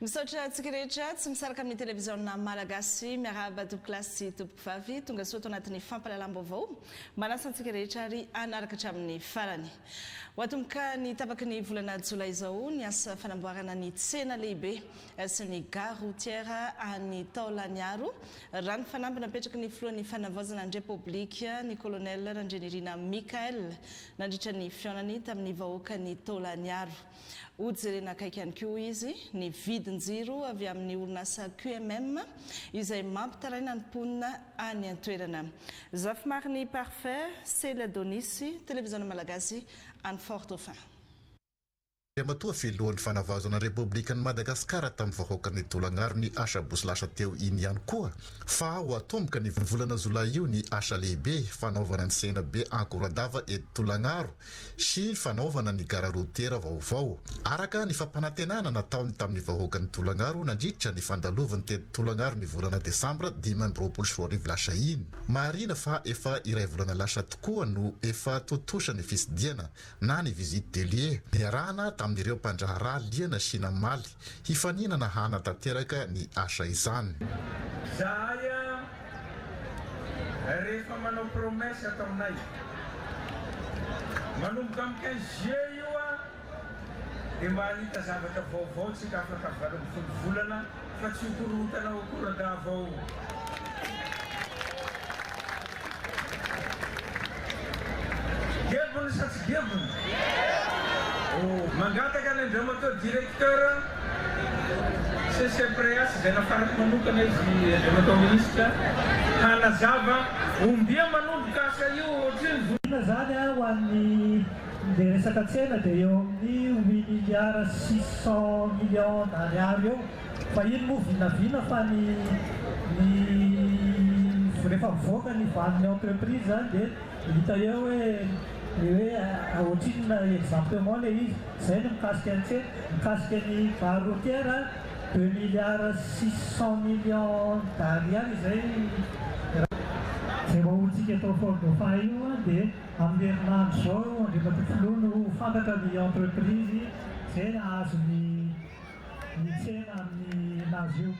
Misaotra antsika rehetra tsy misaraka amin'ny televiziona Malagasy. Miarahaba tompoko lahy sy tompoko vavy tonga soa ato anatin'ny fampalalam-baovao. Manasa antsika rehetra ary hanaraka hatramin'ny farany. Ho atomboka ny tapaky ny volana Jolay izao ny asa fanamboarana ny tsena lehibe sy ny gare routière any Taolaniaro, raha ny fanamby napetraky ny filohan'ny fanavaozana ny Repoblika, ny Colonel Randrianirina Michaël, nandritra ny fihaonany tamin'ny vahoakan'i Taolaniaro. Ho jerena akaiky ihany koa izy ny vidin-jiro avy amin'ny orinasa QMM izay mampitaraina ny mponina any an-toerana. Zafimarine Parfait, Celia Donisy, Televiziona Malagasy any Fort Dauphin. Andriamatoa Filohan'ny Fanavaozana Repoblikan'i Madagasikara tamin'ny vahoaka ny Tolagnaro ny Asa Bosy lasa teo iny ihany koa fa ho atomboka ny volana Jolay io ny asa lehibe fanaovana ny senabe Ankoradava eto Tolagnaro sy fanaovana ny gara rotiera vaovao, araka ny fampanantenana nataony tamin'ny vahoakan'i Tolagnaro nandritra ny fandalovan'ny teto Tolagnaro ny volana desambra dimy amby roapolo sy roa arivo lasa iny. Marihina fa efa iray volana lasa tokoa no efa tontosa ny fitsidiana na ny visite des lieux, niarahana tamin'ireo mpandraharaha liana sy namaly Hifaninana hanatanteraka ny asa izany. Zahay a rehefa manao promesse ataonay manomboka amin'ny quinze juillet io a dia mba hahita zavatra vaovao tsika afaka valo ambin'ny folo volana fa tsy ho korontana ho korodavao. Gevony sa tsy gevony? Oh. Mangataka ny Andriamatoa Directeur CCPREAS izay nafarako manokana izy Andriamatoa Ministra hanazava ombia manomboka asa io ohatrino vo. Inona izany an ho an'ny izay resaka tsena dia eo amin'ny huit milliards six cent millions d'ariary eo. Fa iny moa vinavina fa ny ny rehefa mivoaka ny valin'ny entreprise zany dia hita eo hoe ny hoe ohatrinona exactement le izy. Zay ny mikasika ny tsena. Mikasika ny gare routière deux milliards six cent millions d'ariary izay raha. Izay vahoantsika eto Fort Dauphin io an dia amin'ny herinandro izao Andriamatoa Filoha no ho fantatra ny entreprise izay hahazo ny. ny tsena amin'ny nazy io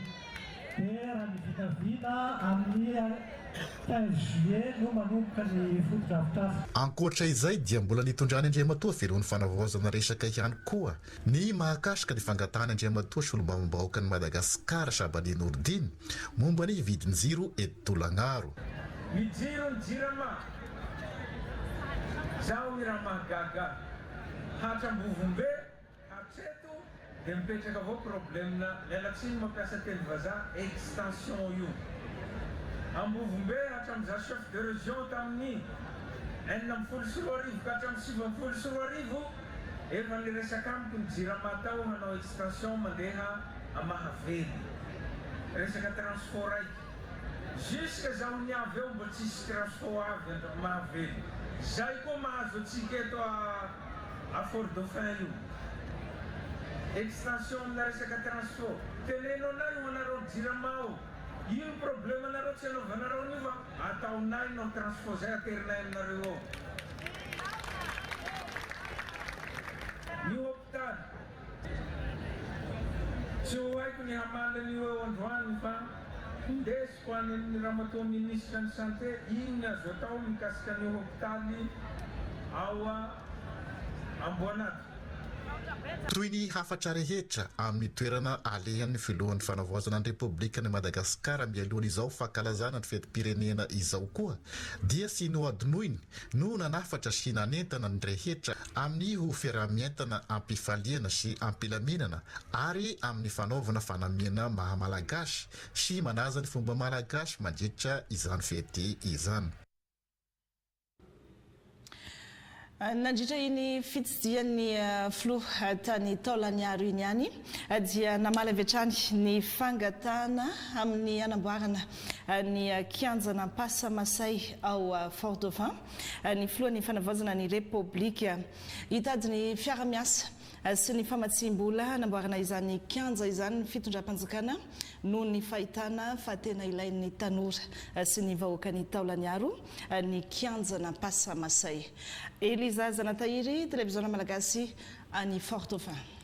dia raha ny vinavina amin'ny quinze juillet no manomboka ny fotodrafitrasa. Ankoatra izay dia mbola nitondran'i Andriamatoa Velo ny fanavaozana resaka ihany koa ny mahakasika ny fangatahan'i Andriamatoa Solombavambahoakan'i Madagasikara Shabani Nourdin momba ny vidin-jiro eto Tolagnaro. Ny jiro ny jirama Zaho irama gaga hatram-bovombe. Hatreto dia mipetraka avao problemna lela tsy ny mampiasa teny vazaha extension io ambovombe hatramin'izaho chef de region tamin'ny enina ambin'ny folo sy roa arivo ka hatramin'ny sivy ambin'ny folo sy roa arivo efa niresaka amiko ny jirama tao hanao extension mandeha à mahavelo resaka transfo raiky jusque zaho niavy eo mbo tsisy trasfo avy mahavelo zay koa mahazo antsika eto à A Fort Dauphin io. Extension amina resaka transfo. Teneno anay ho anareo jirama ao. Ino probleme nareo tsy anaovanareo anio fa ataonay non transfo zay aterinay aminareo ao. Ny hopitaly. Tsy ho haiko ny hamaly anio eo androany fa ndeso. Ho any amin'ny Ramatoa Minisitra ny Santé, inona azo atao mikasika ny hopitaly ao Amboanato? Toy ny hafatra rehetra amin'ny toerana alehan'ny Filohan'ny Fanavaozana ny Repoblikan'i Madagasikara mialoha an'izao fankalazana ny fetim-pirenena izao koa dia sy nohadinoiny no nanafatra sy nanentana ny rehetra amin'ny ho fiaraha-mientana am-pifaliana sy am-pilaminana ary amin'ny fanaovana fanamiana maha-malagasy sy manaja ny fomba malagasy mandritra izany fety izany. Nandritra iny fitsidihan'ny filoha tany Taolagnaro iny ihany dia namaly avy hatrany ny fangatahana amin'ny hanamboarana ny kianjan'Ampasa Masay ao Fort Dauphin ny filohan'ny fanavaozana ny Repoblika. Hitady ny fiara-miasa sy ny famatsiam-bola hanamboarana izany kianja izany ny fitondram-panjakana noho ny fahitana fa tena ilain'ny tanora sy ny vahoakan'i Taolagnaro ny kianjan'Ampasamasay. Eliza Zanatahiry, Televiziona Malagasy any Fort Dauphin.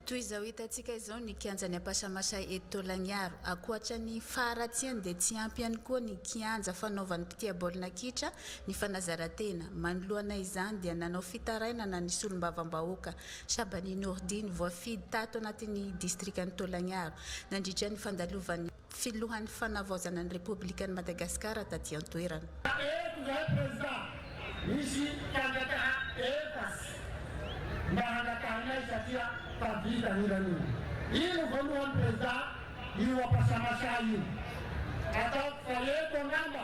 Toy izao hitantsika izao ny kianjan'i Ampasamasay eto Taolagnaro. Ankoatra ny faharatsiany dia tsy ampy ihany koa ny kianja fanaovan'ny mpitia baolina kitra Ny fanazarantena, manoloana izany dia nanao fitarainana ny solombavambahoaka Shabani Nourdine voafidy tato anatin'ny distrikan'i Tolagnaro nandritra ny fandalovan'ny filohan'ny fanavaozana ny Repoblikan'i Madagasikara taty an-toerana. Eto indray prezida, misy fangatahana efasy mba hangatahinay satria tavita ny ran'omby. Iny voalohany prezida, io ampasamasa io ataoko fa eto angamba.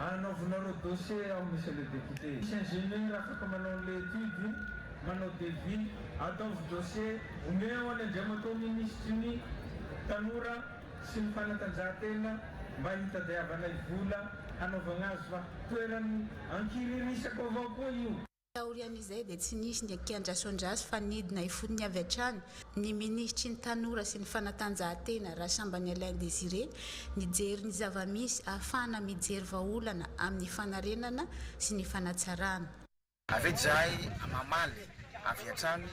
Anaovinareo dossier ao monsieur le député. Misy ingénieur afaka manao an'ilay étude, manao devis, ataovy dossier, omeo ho an'i Andriamatoa Minisitry ny Tanora sy ny Fanatanjahantena mba hitadiavanay vola hanaovagna azy fa toeran'ny ankiririsako avao koa io. Taorian'izay dia tsy nisy ny kiandrason-dratsy fa nidina ifotony avy hatrany ny minisitry ny Tanora sy ny fanatanjahantena, Rasambany Alain Désiré, nijery ny zava-misy ahafahana mijery vahaolana amin'ny fanarenana sy ny fanatsarana. Avy eo izahay mamaly avy hatrany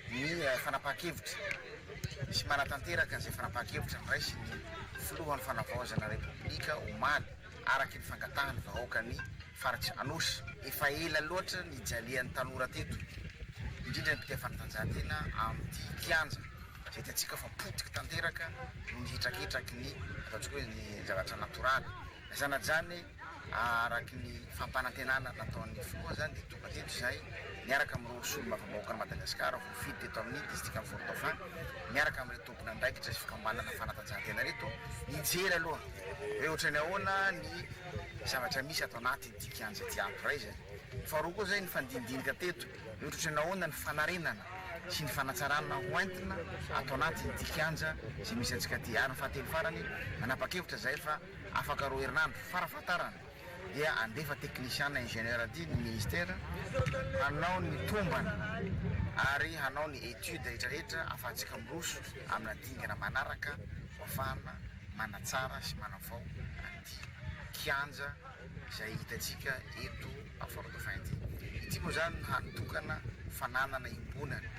ny fanapahan-kevitra sy manatanteraka izay fanapahan-kevitra noraisin'ny Filohan'ny Fanavaozana Repoblika omaly araka ny fangatahan'ny vahoaka ny Faritra Anosy, efa ela loatra nijalian'ny tanora teto, indrindra ny mpitia fanatanjahantena amin'ity kianja izay hitantsika fa potika tanteraka noho ny hetraketraky ny ataontsika hoe ny zavatra natoraly. Na izany na izany, araka ny fampanantenana nataon'ny filoha izany dia tonga teto izahay niaraka amin'ireo solombavam-bahoakan'i Madagasikara voafidy teto amin'ny distrikan'i Fort-Dauphin miaraka amin'ireto nandraikitra ny fikambanana fanatanjahantena ireto nijery aloha hoe ohatran'ny ahoana ny zavatra misy ato anatin'ity kianja ity ato iray izay. Faharoa koa izay nifandinidinika teto hoe ohatran'ny ahoana ny fanarenana sy ny fanatsarana hoentina ato anatin'ity kianja izay misy antsika ity. Ary ny fahatelo farany nanapa-kevitra izahay fa afaka roa herinandro fara fahatarany. dia handefa technician na ingénieur aty ny ministera hanao ny tombana ary hanao ny étude rehetra rehetra afahantsika miroso amina dingana manaraka ho afahana manatsara sy manavao an'ity kianja izay hitantsika eto Fort-Dauphin ity. Ity moa izany no hany tokana fananana iombonana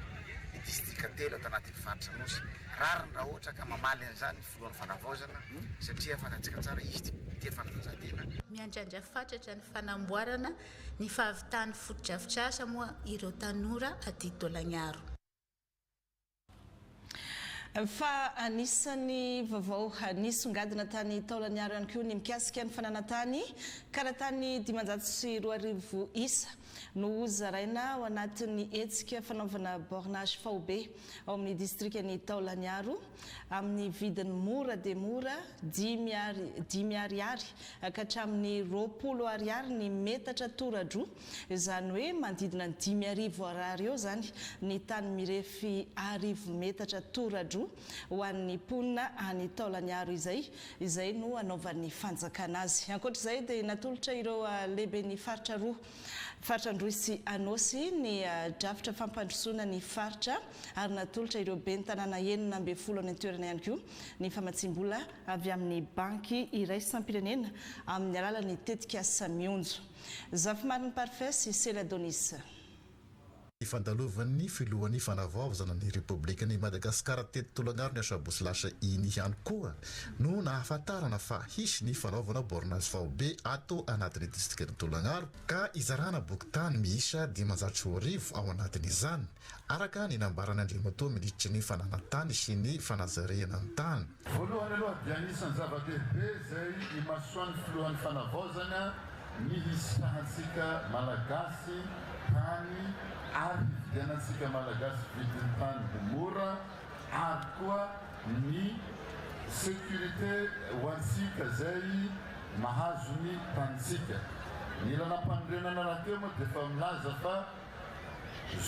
ny distrika telo ato anatin'ny faritra Anosy. Rariny raha ohatra ka mamaly an'izany. Alohan' ny fanavaozana satria fanajika tsara izy ity tia fanatanjahantena. Miandrandra fatratra ny fanamboarana ny fahavitan'ny fotodrafitrasa moa ireo tanora aty Tolagnaro. Fa anisan'ny vaovao nisongadina tany Taolagnaro ihany koa ny mikasika ny fananantany, ka natany dimanjato sy roa arivo isa, no ho zaraina ao anatin'ny hetsika fanaovana bornage faobe ao amin'ny distrikan'i Taolagnaro amin'ny vidiny mora dia mora dimy Ar, dimy Ariary ka hatramin'ny roapolo Ariary ny metatra toradroa, izany hoe manodidina ny dimy arivo Ar eo izany ny tany mirefy arivo metatra toradroa ho an'ny mponina any Taolagnaro izay, izay no hanaovan'ny fanjakana azy. Ankoatra izay dia natolotra ireo lehiben'ny faritra roa, faritra Androy sy Anôsy, ny drafitra fampandrosoana ny faritra ary natolotra ireo ben'ny tanàna enina ambin'ny folo any an-toerana ihany koa ny famatsiam-bola avy amin'ny banky iraisam-pirenena amin'ny alalan'ny tetikasa Mionjo. Zafimarin'i Parfait sy Sela Donisa. Ifandalovan'ny filohan'ny Fanavaozana ny Repoblikan'i Madagasikara teto Tolagnaro ny asabotsy lasa iny ihany koa no nahafantarana fa hisy ny fanaovana bornage faobe ato anatin'ny distrikan'i Tolagnaro ka hizarana bokin-tany miisa dimanjato sy roa arivo ao anatin'izany, araka ny nambaran'Andriamatoa Minisitry ny Fananantany sy ny Fanajariana ny Tany. Voalohany aloha dia anisan'ny zava-dehibe izay imasoan'ny Filohan'ny Fanavaozana ny hisitrahantsika Malagasy tany ary hividianantsika Malagasy vidin'ny tany ho mora ary koa ny sécurité ho antsika izay mahazo ny tanintsika. Ny lalam-panorenana rahateo moa dia efa milaza fa.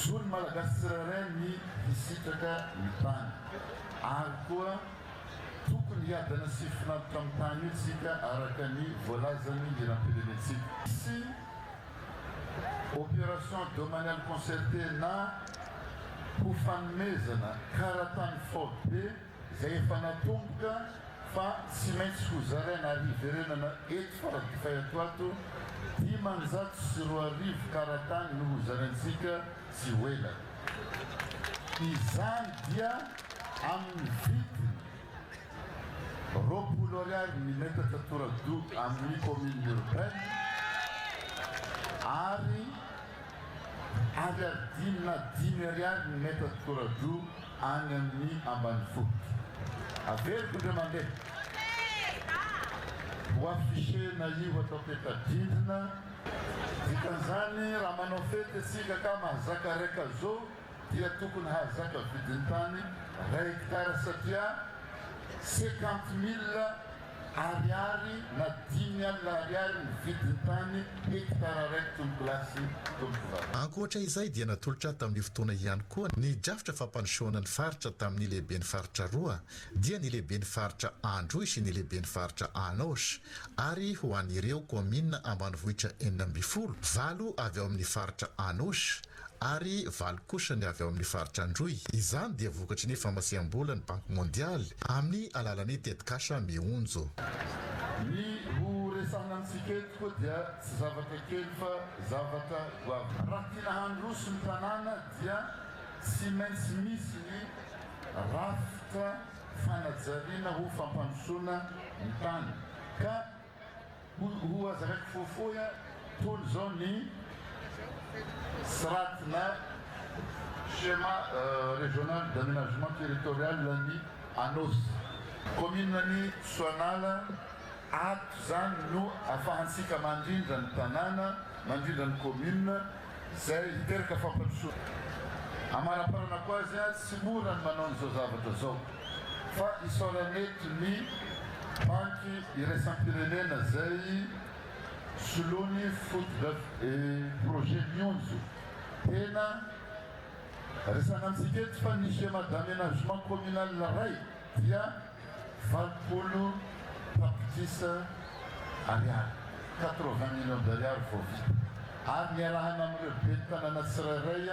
Zo ny Malagasy tsirairay ny hisitraka ny tany ary koa tokony hiadana sy hifinantoka amin'ny tany io tsika araka ny voalazan'ny hiram-pirenentsika. Tsy opération domaniale concertée na ho fanomezana kara-tany faobe. izay efa natomboka fa tsy maintsy ho zaraina ary hiverenana eto Faradofay ato ato, dimanjato sy roa arivo karatany no ho zaraintsika tsy ho ela. Izany dia amin'ny vidiny roapolo ariary ny metatra tora-doha amin'ny commune urbaine ary ariary dimy na dimy ariary ny metatra tora-doha any amin'ny ambanivohitra. Averiko indray mandeha. Ho afficher na io atao peta-drindrina. Dikan'izany raha manao fety isika ka mahazaka ray kazo dia tokony hahazaka vidin-tany ray hectare satria cinquante mille Ariary na dimy alina ariary ny vidin'ny tany hekitara raiky tompolasy tompovaliny. Ankoatra izay dia natolotra tamin'io fotoana ihany koa ny drafitra fampandrosoana ny faritra tamin'ny lehiben'ny faritra roa dia ny lehiben'ny faritra Androy sy ny lehiben'ny faritra Anôsy ary ho an'ireo kaominina ambanivohitra enina ambin'ny folo, valo avy ao amin'ny faritra Anôsy, ary valo kosa ny avy ao amin'ny faritra Androy. Izany dia vokatry ny famasiham-bola ny Banky Mondialy amin'ny alalan'ny tetikasa Mihonjo. Ny ho resahina amintsika eto koa dia tsy zavatra kely fa zavatra goavana. Raha tiana handroso ny tanàna dia tsy maintsy misy ny rafitra fanajariana ho fampandrosoana ny tany ka Ho aza reko fohifohy a! Tony zao ny srat na schéma régional d'aménagement territorial ny Anôsy, commune ny Soanala, ato zany no afahantsika mandrindra ny tanàna, mandrindra ny commune, Izay hiteraka fampandrosoana. Amanaparanako azy a, tsy mora ny manao an'izao zavatra izao fa isaorana eto ny Banky iraisam-pirenena izay soloany fotodraf e projet Mionjo. Tena resana antsika eto fa ny Schéma d'aménagement communal iray dia. Valopolo tapitrisa ariary, quatre-vingts millions d'ariary, vao vita. Ary niarahana amin'ireo ben'ny tanàna tsirairay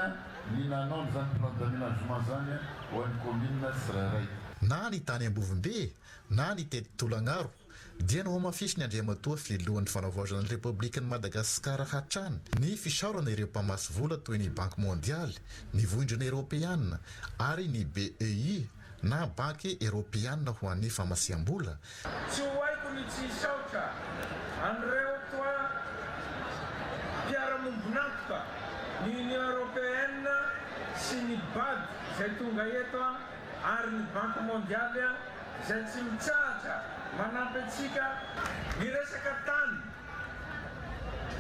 ny nanao an'izany plan d'aménagement izany ho an'ny kaominina tsirairay. Na ny tany Ambovombe, na ny teto Tolagnaro, dia nohamafisin'ny Andriamatoa Filohan'ny Fanavaozana ny Repoblikan'i Madagasikara hatrany ny fisaorana ireo mpamatsy vola toy ny Banky Mondialy, ny Vondrona Eropeana ary ny BEI, na Banky Eropeana ho an'ny Famasiham-bola, Tsy ho haiko ny tsy hisaotra an'ireo toa mpiara-mombon'antoka, ny Union Européenne sy ny Bad izay tonga eto ary ny Banky Mondialy izay tsy mitsahatra manampy antsika miresaka tany.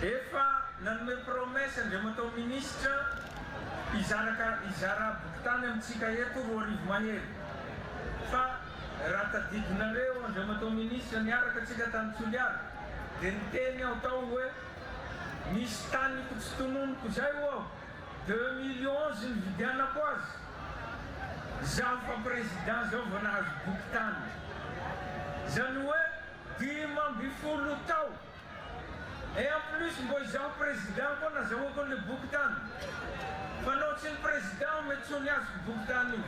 Efa nanome promesse Andriamatoa Minisitra hizara ka hizara bokitany amintsika eto roa arivo mahery fa raha tadidinareo Andriamatoa Minisitra niaraka antsika tany Toliara dia niteny aho tao hoe misy taniko tsy tononiko izay ho'aho deux mille onze nividianako azy izaho fa Président izao vao nahazo bokitany izany hoe Dimy ambin'ny folo tao. Et en plus mbô izaho président koa nazahoako an'le boky tany. Fa nao tsy ny président aho mety tsy ho niazoko boky tany io.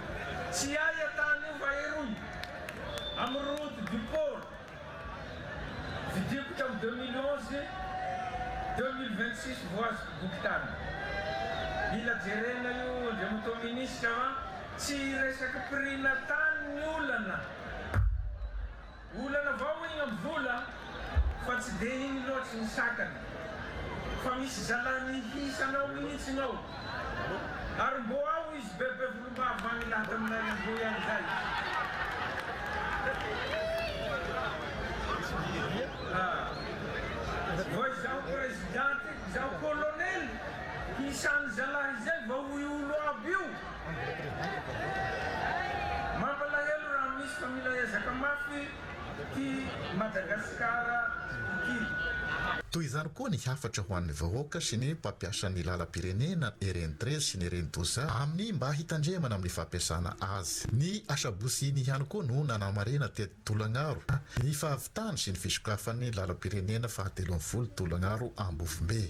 Tsy aia tany io fa eroy. Am route du port. Vidiko tam deux mille onze, deux mille vingt six vao azoko boky tany. Mila jerena io Andriamatoa Ministra fa tsy hiresaka prix-na tany ny olana. Olana vao ho enina amby vola fa tsy dia iny loatry ny sakana fa misy zalahy mihisa anao mihitsy ngao ary mbo ao izy be be volombava any laha taminay androy any zay ah vao izaho prezidanty izaho kolonely hisa any zalahy izay vao ho olo aby io Mampalahelo raha misy fa mila ezaka mafy ity Madagascar ity. Toy izany koa ny hafatra ho an'ny vahoaka sy ny mpampiasa ny lalam-pirenena ereny très sy ny ereny doza amin'ny mba hitandremana amin'ny fampiasana azy. Ny asabotsy iny ihany koa no nanamarena teto Tolagnaro ny fahavitany sy ny fisokafan'ny lalam-pirenena fahatelo ambin'ny folo Tolagnaro Ambovombe.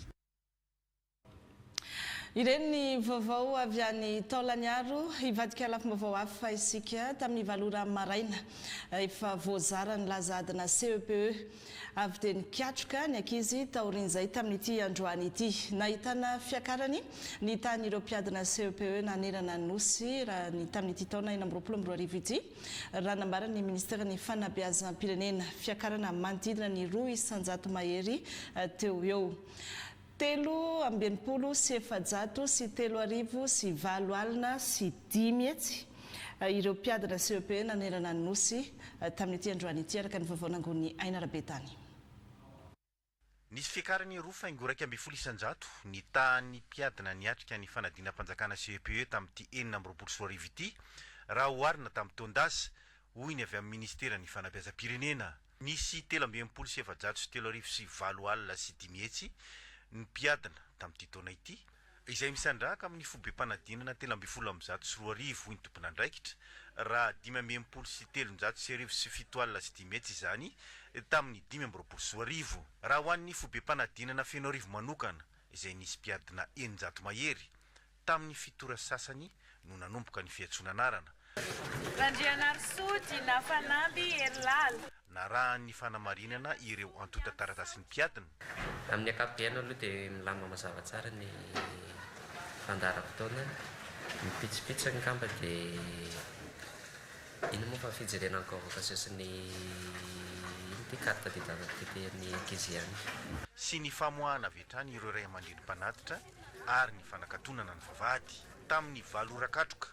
Ireny ny vaovao avy any Taolagnaro. Hivadika lafim-baovao hafa isika. Tamin'ny valo ora maraina, efa voazara ny laza adina CEPE. Avy dia nikatroka ny ankizy taorian'izay tamin'ity androany ity. Nahitana fiakarany ny tahan'ireo mpiadina CEPE nanerana ny Nosy raha ny tamin'ity taona enina amby roapolo amby roa arivo ity, raha nambaran'ny minisiteran'ny Fanabeazam-pirenena. Fiakarana manodidina ny roa isan-jato mahery teo eo. Telo amby enimpolo sy efajato sy telo arivo sy valo alina sy dimy hetsy ireo mpiadina CEP nanerana ny Nosy tamin'ity androany ity, araka ny vaovao nangon'i Aina Rabetany. Nisy fiakaran'ny roa faingo iraika ambin'ny folo isan-jato ny tahan'ny mpiadina niatrika ny fanadinam-panjakana CEPE tamin'ity enina amby roapolo sy roa arivo ity, raha oharina tamin'ny taon-dasa, hoy ny avy amin'ny minisiteran'ny Fanabeazam-pirenena. Nisy telo amby enimpolo sy efajato sy telo arivo sy valo alina sy dimy hetsy ny mpiadina tamin'ity taona ity, izay misandrahaka amin'ny fobem-panadinana telo ambin'ny folo amby zato sy roa arivo, hoy ny tomponandraikitra, raha dimy amby enimpolo sy telonjato sy arivo sy fito alina sy dimy hetsy izany tamin'ny dimy amby roapolo sy roa arivo. Raha ho an'ny fobem-panadinana Fenoarivo manokana, izay nisy mpiadina eninjato mahery, Tamin'ny fitora sasany no nanomboka ny fiantsoana anarana. Randrianarisoa Dina Fanamby Herilala. Narahan'ny fanamarinana ireo antontan-taratasin'ny mpiadina. Amin'ny ankapobeny aloha dia milamina mazava tsara ny fandaharam-potoana. Ny pitsopitsony angamba dia inona moa fa fijerena ny convocation sy ny inona ity carte d'identité ny ankizy ihany. Sy ny famoahana avy hatrany ireo ray aman-dreny mpanatitra ary ny fanakatonana ny vavahady tamin'ny valo ora katroka,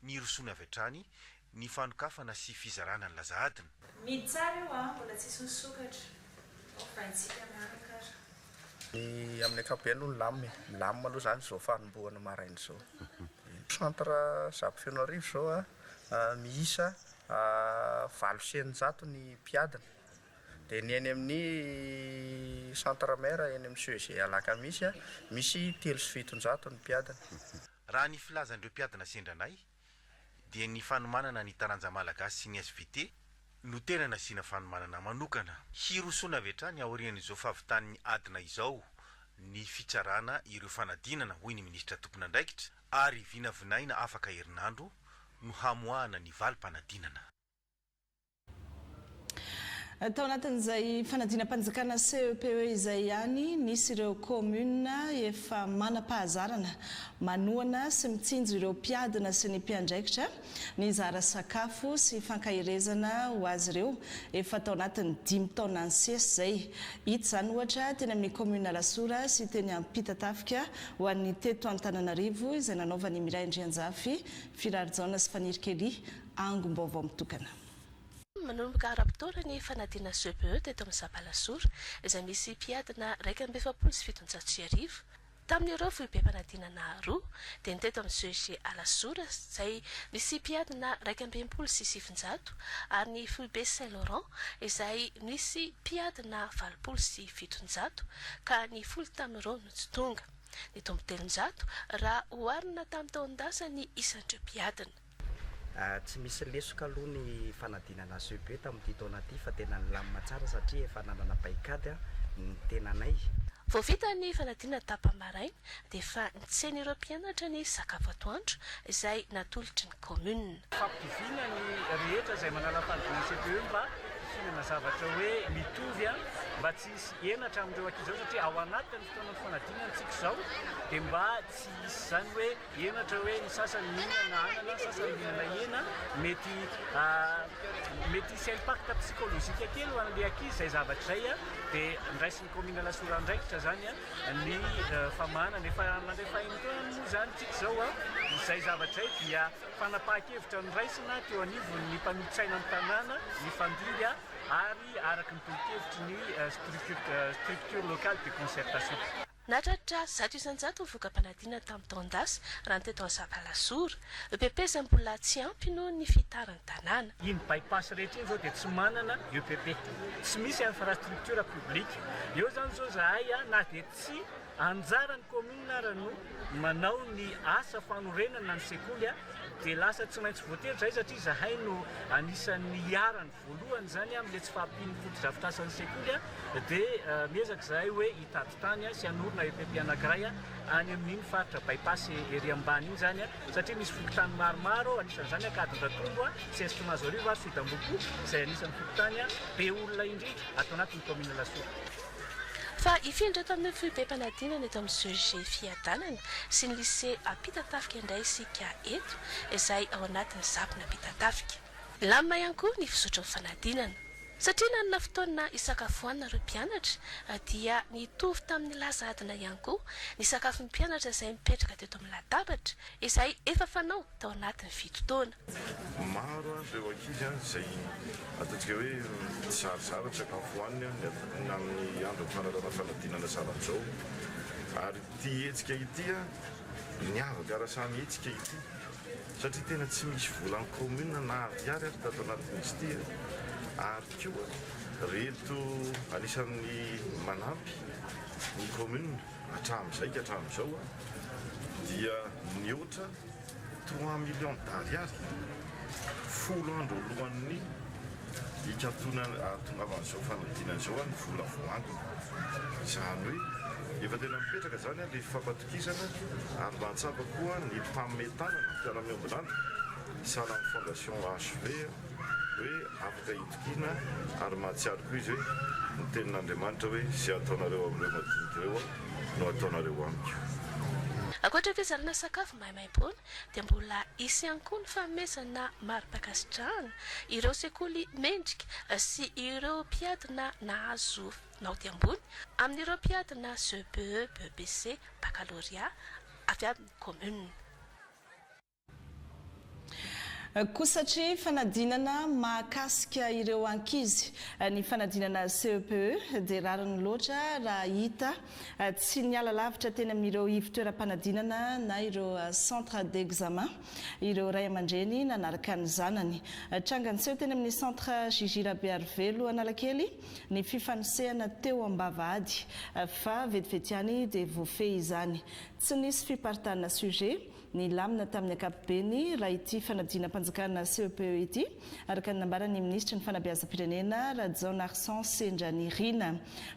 nirosoany avy hatrany ny fanokafana sy fizarana ny laza adina. Midy tsara io an! Mbola tsisy misokatra. Ovaintsika miaraka ary. Ny amin'ny ankapobeny aloha milamina e, milamina aloha izany izao fanombohana maraina izao. Centre Zabo Fenoarivo izao an, miisa valo sy eninjato ny mpiadina. Dia ny eny amin'ny Centre Mère eny amin'ny CEG Alakamisy, misy telo sy fitonjato ny mpiadina. Raha ny filazan'ireo mpiadina sendra anay dia ny fanomanana ny taranja malagasy sy ny svt no tena nasiana fanomanana manokana. Hirosoana avy hatrany aorian'izao fahavitan'ny adina izao ny fitsarana ireo fanadinana, hoy ny minisitra tompon'andraikitra, ary vinavinaina afaka herinandro no hamoahana ny valim-panadinana. Tao anatin'izay fanadinam-panjakana CEPE izay ihany, nisy ireo kaominina efa manam-pahazarana manohana sy mitsinjo ireo mpiadina sy ny mpiandraikitra nizara sakafo sy fankaherezana ho azy ireo efa tao anatin'ny dimy taona nisesy izay. Hita izany ohatra teny amin'ny kaominina Alasora sy teny Ampitatafika ho an'ny teto Antananarivo izay nanaovan'i Miray Andrianjafy, Firary Jaona sy Fanirikelly angom-baovao mitokana. Manomboka ara-potoana ny fanadinana CPE teto amin'ny Sabalasora, izay misy mpiadina iraika amby efapolo sy fitonjato sy arivo. Tamin'ireo foibem-panadinana roa, dia ny teto amin'ny CEG Alasora, izay misy mpiadina iraika amby enimpolo sy sivinjato, ary ny foibe Saint Laurent, izay nisy mpiadina valopolo sy fitonjato, ka ny folo tamin'ireo no tsy tonga. Nitombo telonjato raha oharina tamin'ny taon-dasa ny isan'ireo mpiadina. Tsy misy lesoka aloha ny fanadinana HEB tamin'ity taona ity fa tena nilamina tsara satria efa nanana paikady ny tenanay. Vao vita ny fanadinana tapa-maraina dia efa nitsen'ireo mpianatra ny sakafo atoandro izay natolotry ny kaominina. Fampitoviana ny rehetra izay manala fanadinana CPE mba hihinana zavatra hoe mitovy mba tsy hisy henatra amin'ireo ankizy ireo satria ao anatin'ny fotoanan'ny fanadinana antsika izao dia mba tsy hisy izany hoe henatra hoe ny sasany mihinana anana, ny sasany mihinana hena, mety mety hisy impact psychologique kely ho an'ilay ankizy izay zavatra izay an, dia ndraisin'ny kaominina Alasora andraikitra izany ny famahanana, efa mandray fahemotana moa izany isika izao an, izay zavatra izay dia fanapahan-kevitra noraisina teo anivon'ny mpanolotsaina ny tanàna nifandimby ary araka ny tolo-kevitry ny structure locale de concertation. Nahatratra zato isan-jato ny voka-panadinana tamin'ny taon-dasa, raha ny teto Ansapalasora. EPP izay mbola tsy ampy noho ny fihitaran'ny tanàna. Iny bypass rehetra iny izao dia tsy manana EPP. Tsy misy infrastructure public. Eo izany izao izahay na dia tsy anjaran'ny commune ara no manao ny asa fanorenana ny sekoly dia lasa tsy maintsy voatery izahay satria izahay no anisan'ny iharan'ny. Voalohany izany amin'ilay tsy fahampian'ny fotodrafitrasan'ny sekoly dia miezaka izahay hoe hitady tany sy hanorina EPP anankiray any amin'iny faritra Bypass ery ambany iny izany satria misy fokontany maromaro anisan'izany Ankadindratrombo, CSP Mahazoarivo ary Sodambohipo izay anisan'ny fokontany be olona indrindra ato anatin'ny kaominina Lasora. Fa hifindra tamin'ny foibem-panadinana eto amin'ny CEG Fiadanana sy ny Lycée Ampitatafika indray isika eto izay ao anatin'ny Zafin'Ampitatafika. Milamina ihany koa ny fizotry ny fanadinana. Satria nanana fotoana hisakafoanana ireo mpianatra dia nitovy tamin'ny lasa adina ihany koa ny sakafon'ny mpianatra izay mipetraka teto amin'ny latabatra izay efa fanao tao anatin'ny fito taona. Maro ary ireo ankizy izay ataontsika hoe mizarizary ny sakafo hohaniny na amin'ny andron'ny fanarahana fanadinana zava-bizao. Ary ity hetsika ity, niavaka ara-saha mihitsy ity. satria tena tsy misy vola ny commune na ariary aza tato anatin'izy ity e! ary koa reto anisan'ny manampy ny commune hatramin'izay ka hatramin'izao dia nihoatra trois millions d'ariary folo andro alohan'ny hikatonana hahatongavan'izao fanadinana izao ny vola voantona izany hoe efa tena mipetraka izany ilay fampatorana Kitana ary mba hahatsapa koa ny mpanome tanana ny mpiara-miombon'antoka sahala amin'ny Fondation HV hoe afaka itokiana ary mahatsiaro koa izy hoe ny tenin'Andriamanitra hoe izay ataonareo amin'ireo madinika ireo aho no ataonareo amiko. Ankoatra ny fizarana sakafo maimaimpoana dia mbola hisy ihany koa ny fanomezana mari-pankasitrahana ireo sekoly mendrika sy ireo mpiadina nahazo naoty ambony amin'ireo mpiady na CBE, BEPC, Baccalauréat avy amin'ny Commune. Koa satria fanadinana mahakasika ireo ankizy ny fanadinana CEPE dia rariny loatra raha hita tsy niala lavitra teny amin'ireo ivotoeram-panadinana na ireo centres d'examen ireo ray aman-dreny nanaraka ny zanany. Tranga niseho teny amin'ny centre JJ Rabearivelo Analakely ny fifanosehana teo ambavahady fa vetivety ihany dia voafehy izany. Tsy nisy fiparitahanana sujet nilamina tamin'ny ankapobeny raha ity fanadinam-panjakana CEPE ity, araka ny nambaran'ny minisitry ny Fanabeazam-pirenena, Rajaonarison Sendranirina.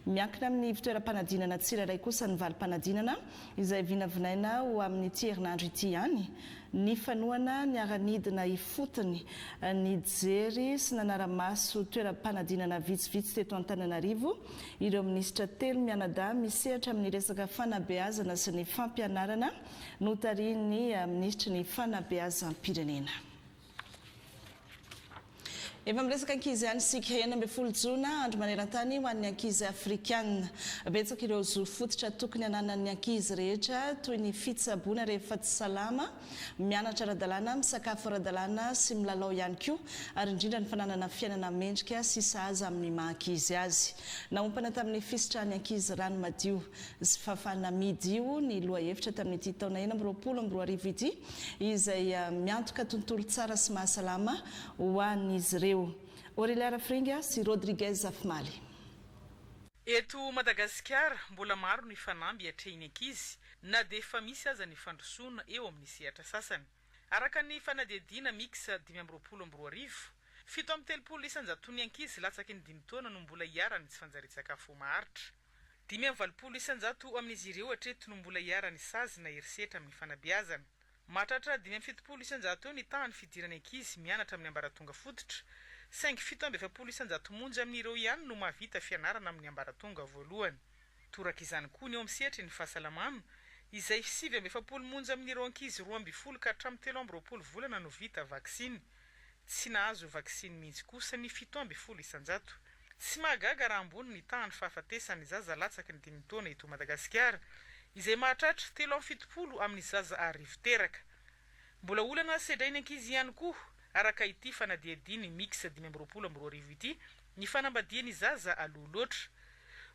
Miankina amin'ny ivontoeram-panadinana tsirairay kosa ny valim-panadinana. izay vinavinaina ho amin'ity herinandro ity ihany, ny fanohana niara-nidina ifotony, nijery sy nanara-maso toeram-panadinana vitsivitsy teto Antananarivo ireo minisitra telo mianadahy misehatra amin'ny resaka fanabeazana sy ny fampianarana notarihin'ny minisitry ny Fanabeazam-pirenena. Efa miresaka ankizy ihany isika. Enina ambin'ny folo jona, andro maneran-tany ho an'ny ankizy afrikana. Betsaka ireo zo fototra tokony hananan'ny ankizy rehetra, toy ny fitsaboana rehefa tsy salama, mianatra ara-dalàna, misakafo ara-dalàna sy milalao ihany koa, ary indrindra ny fananana fiainana mendrika sy sahaza amin'ny maha-ankizy azy. Naompana tamin'ny fisitrahan'ny ankizy rano madio. sy Fafa Namidio ny lohahevitra tamin'ity taona enina amby roapolo amby roa arivo ity, izay miantoka tontolo tsara sy mahasalama ho an'izy ireo. Aurelia Rafiringa sy Rodriguez Afimaly. Eto Madagasikara, mbola maro ny fanamby atrehin'ny ankizy na dia efa misy aza ny fandrosoana eo amin'ny sehatra sasany. Araka ny fanadihadiana Mix dimy amby roapolo amby roa arivo, fito amby telopolo isan-jaton'ny ankizy latsaky ny dimy taona no mbola iharan'ny tsy fanjarian-tsakafo maharitra. Dimy amby valopolo isan-jato amin'izy ireo hatreto no mbola iharan'ny sazy na herisetra amin'ny fanabeazana. Mahatratra dimy amby fitopolo isan-jato eo ny tahan'ny fidiran'ny ankizy mianatra amin'ny ambaratonga fototra, saingy fito amby efapolo isan-jato monja amin'ireo ihany no mahavita fianarana amin'ny ambaratonga voalohany. Toraka izany koa ny eo amin'ny sehatry ny fahasalamana, izay sivy amby efapolo monja amin'ireo ankizy roa ambin'ny folo ka hatramin'ny telo amby roapolo volana no vita vaksiny. Tsy nahazo vaksiny mihitsy kosa ny fito ambin'ny folo isan-jato. Tsy mahagaga raha ambony ny tahan'ny fahafatesan'ny zaza latsaky ny dimy taona eto Madagasikara, izay mahatratra telo amby fitopolo amin'ny zaza arivo teraka. Mbola olana sedrain'ny ankizy ihany koa, araka ity fanadihadian'ny Mix dimy amby roapolo amby roa arivo ity, ny fanambadian'ny zaza aloha loatra.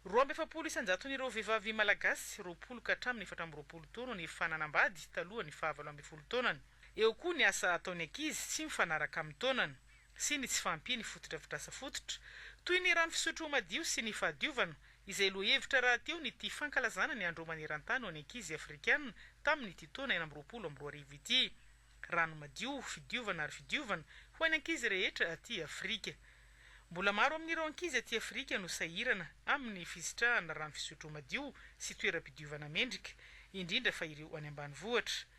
Roa amby efapolo isan-jaton'ireo vehivavy malagasy roapolo ka hatramin'ny efatra amby roapolo taona no efa nanambady talohan'ny fahavalo ambin'ny folo taonany. Eo koa ny asa ataon'ny ankizy tsy mifanaraka amin'ny taonany sy ny tsy fahampian'ny fotodrafitrasa fototra, toy ny rano fisotro madio sy ny fahadiovana, izay lohahevitra rahateo nity fankalazana ny Andro maneran-tany ho an'ny ankizy afrikana tamin'ity taona enina amby roapolo amby roa arivo ity. Rano madio, fidiovana ary fidiovana ho an'ny ankizy rehetra aty Afrika. Mbola maro amin'ireo ankizy aty Afrika no sahirana amin'ny fisitrahana rano fisotro madio sy toeram-pidiovana mendrika, indrindra fa ireo any ambanivohitra.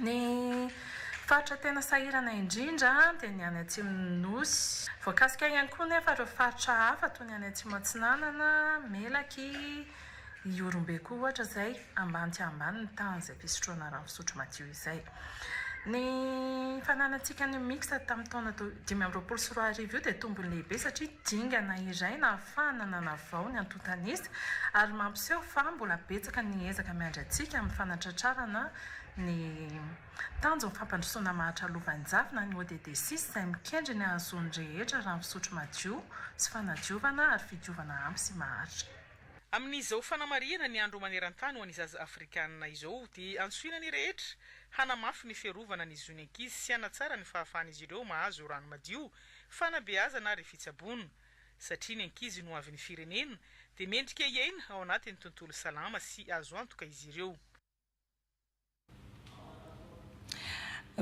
Ny faritra tena sahirana indrindra dia ny any atsimon'ny Nosy. Voakasika ihany koa nefa ireo faritra hafa toy ny any Atsimo Atsinanana, Melaky, Ihorombe koa ohatra izay ambany dia ambany ny tahan'ny izay fisotroana rano fisotro madio izay. Ny fananantsika ny Mixta tamin'ny taona dimy amby roapolo sy roa arivo io dia tombony lehibe satria dingana iray nahafahan'ny. fahana nanavao ny antontanisa ary mampiseho fa mbola betsaka ny ezaka miandry antsika amin'ny fanatratrarana ny tanjon'ny fampandrosoana mahatra lovanjavona ny ODD six izay mikendry ny hahazoan'ny rehetra rano fisotro madio sy fanadiovana ary fidiovana ampy sy maharitra. Amin'izao fanamarihana ny andro maneran-tany ho an'ny zaza afrikanina izao dia antsoina ny rehetra hanamafy ny fiarovana ny zon'ny ankizy sy hanatsara ny fahafahan'izy ireo mahazo rano madio, fanabeazana ary fitsaboana. Satria ny ankizy no hoavin'ny firenena, dia mendrika hiaina ao anatin'ny tontolo salama sy azo antoka izy ireo.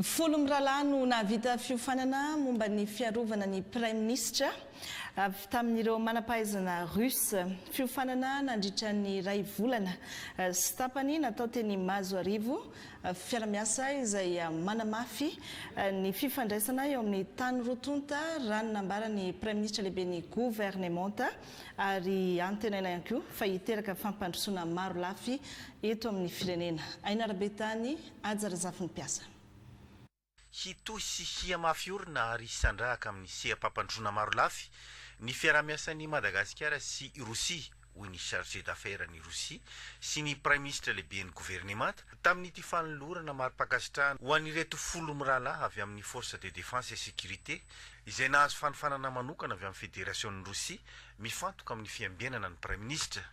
Folo mirahalahy no nahavita fiofanana momba ny fiarovana ny Praiminisitra avy tamin'ireo manam-pahaizana Russe. Fiofanana nandritra ny iray volana sy tapany natao teny Mahazoarivo, Fiara-miasa izay manamafy ny fifandraisana eo amin'ny tany roa tonta, raha ny nambaran'ny Praiminisitra Lehiben'ny Governemanta, ary antenaina ihany koa fa hiteraka fampandrosoana marolafy eto amin'ny firenena. Ainara Betany, Haja Razafinimpiasa. Hitohy sy hihamafy orina ary hisandrahaka amin'ny seha-pampandrosoana marolafy ny fiaraha-miasan'i Madagasikara sy i Rosia, hoy ny Chargé d'Affaires-n'i Rosia sy ny Praiminisitra Lehiben'ny Governemanta, tamin'ity fanolorana mari-pankasitrahana ho an'ireto folo mirahalahy avy amin'ny Forces de Défense et Sécurité izay nahazo fanofanana manokana avy amin'ny Federasionin'i Rosia mifantoka amin'ny fiambenana ny Praiminisitra.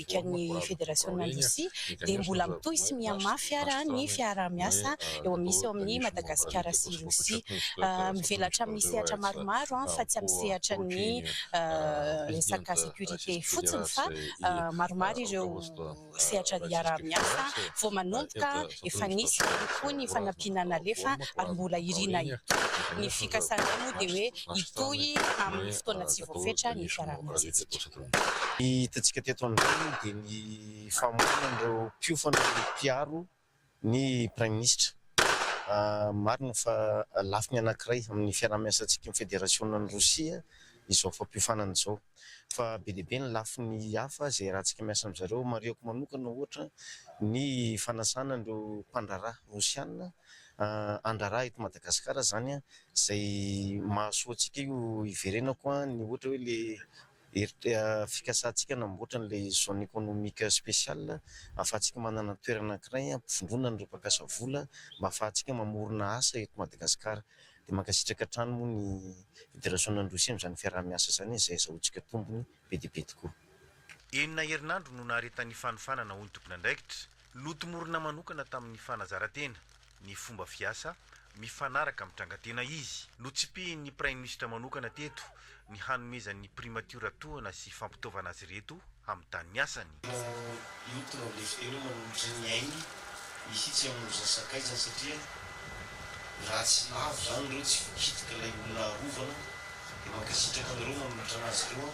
Repoblikan'ny Federasionina Rosia dia mbola mitohy sy mihamafy ara ny fiaraha-miasa eo amin' misy eo amin'i Madagasikara sy Rosia. Mivelatra amin'ny sehatra maromaro fa tsy amin'ny sehatra ny resaka sécurité fotsiny fa maromaro ireo sehatra iaraha-miasa vao manomboka efa nisy ihany koa ny fanampiana nalefa ary mbola irina hitohy. Ny fikasanay moa dia hoe hitohy amin'ny fotoana tsy voafetra ny fiaraha-miasantsika. Ny hitantsika teto amin'izao dia ny famonoana an'ireo mpiofana mpiaro ny Praiminisitra. Marina fa lafiny anankiray amin'ny fiaraha-miasantsika amin'ny Federasionan'i Rosia izao fampiofanana izao. Fa be dia be ny lafiny hafa izay iarahantsika miasa amin'izareo. Marihiko manokana ohatra ny fanasana an'ireo mpandraharaha Rosiana handrara eto Madagasikara izany izay mahasoa antsika io hiverenako ny ohatra hoe ilay herit- fikasantsika hanamboatra an'ilay zone économique spéciale ahafahantsika manana toerana anankiray hampivondronana ireo mpankasa vola mba ahafahantsika mamorona asa eto Madagasikara. Dia mankasitraka hatrany moa ny Federasionina Androy Sy amin'izany fiaraha-miasa izany izay azahoantsika tombony be dia be tokoa. Enina herinandro no naharetan'ny fanofanana hoy ny tompon'andraikitra. Notomorina manokana tamin'ny fanazarantena ny fomba fiasa mifanaraka amin'ny trangan-tena izy. Notsipihin'ny Praiminisitra manokana teto ny hanomezan'ny Primatiora tohana sy fampitaovana azy ireto amin'ny tanin'ny asany. Raha io tronc de fer io manolotra ny ainy mihitsy aho no sakaizany satria raha tsy lavo izany ireo tsy voakitika ilay olona arovana dia mankasitraka anareo manolotra anazy ireo aho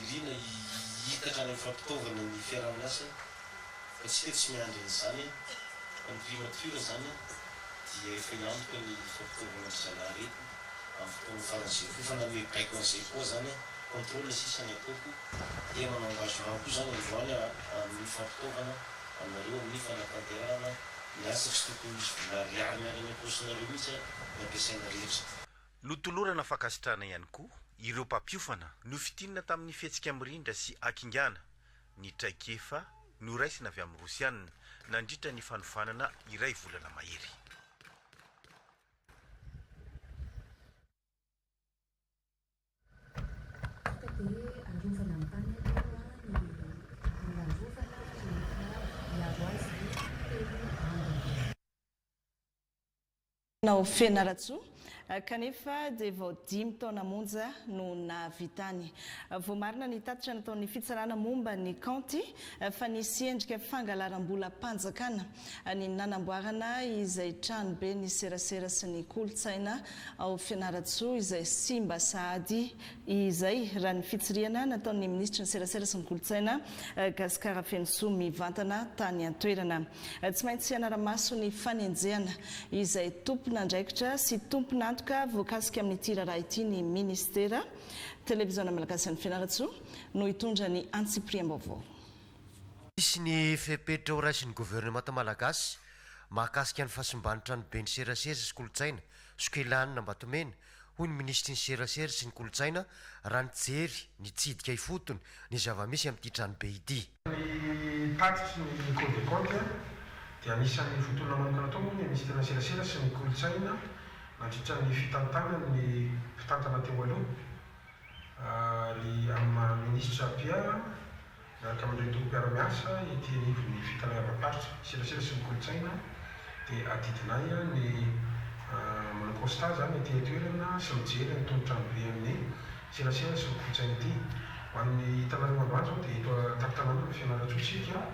Irina hiitatra any amin'ny fampitaovana ny fiaraha-miasa fa tsika tsy miandry an'izany an! Fa ny primature zany an dia efa hiantoka ny fampitaovana ry zalahy reto amin'ny fotoana faran'izay koa efa nanome baiko an'izay koa zany an! Contrôle sisa ny ataoko dia manao engagement koa zany androany an amin'ny fampitaovana anareo amin'ny fanatanterahana ny asa tsy tokony misy vola ariary miala any am-paosinareo mihitsy an ny ampiasaina rehetra. Notolorana fankasitrahana ihany koa ireo mpampiofana nofintinina tamin'ny fihetsika mirindra sy hakingana ny traikefa noraisina avy amin'ny Rosiana nandritra ny fanofanana iray volana mahery. Nao Fianarantsoa, kanefa dia vao dimy taona monja no nahavitany. Voamarina ny tatitra nataon'ny fitsarana momba ny kaonty fa nisy endrika fangalaram-bolam-panjakana ny nanamboarana izay tranoben'ny serasera sy ny kolontsaina ao Fianarantsoa izay simba sahady izay, raha ny fitsirihana nataon'ny minisitry ny Serasera sy ny Kolontsaina, Gascar Afenisoa, mivantana tany an-toerana. Tsy maintsy hanara-maso ny fanenjehana izay tompon'andraikitra sy tompon'antoka voakasika amin'ity raharaha ity ny minisitera. Televiziona Malagasy an'i Fianarantsoa no hitondra ny antsipiriam-baovao. Hisy ny fepetra horaisin'ny governemanta malagasy mahakasika ny fahasimban'ny tranoben'ny Serasera sy Kolontsaina, Sokelahin'Ambatomena, hoy ny minisitry ny Serasera sy ny kolontsaina raha nijery nitsidika ifotony ny zava-misy amin'ity tranobe ity. Ny tatitry ny Cour des Comptes dia anisan'ny votoana manokana atao moa ny minisitry ny Serasera sy ny kolontsaina nandritra ny fitantanany ny mpitantana teo aloha, ry amin'ny maha minisitra Pierre Miaraka amin'ireto mpiara-miasa ety anivon'ny Fitanayambaparitra Serasera sy ny Kolontsaina dia adidinay ny manao constat izany ety an-toerana sy mijery an'itony tranobe an'ny Serasera sy ny Kolontsaina ity. Ho an'ny hitanareo androany izao dia eto an-tampon-tanàna ny Fianarantsoa isika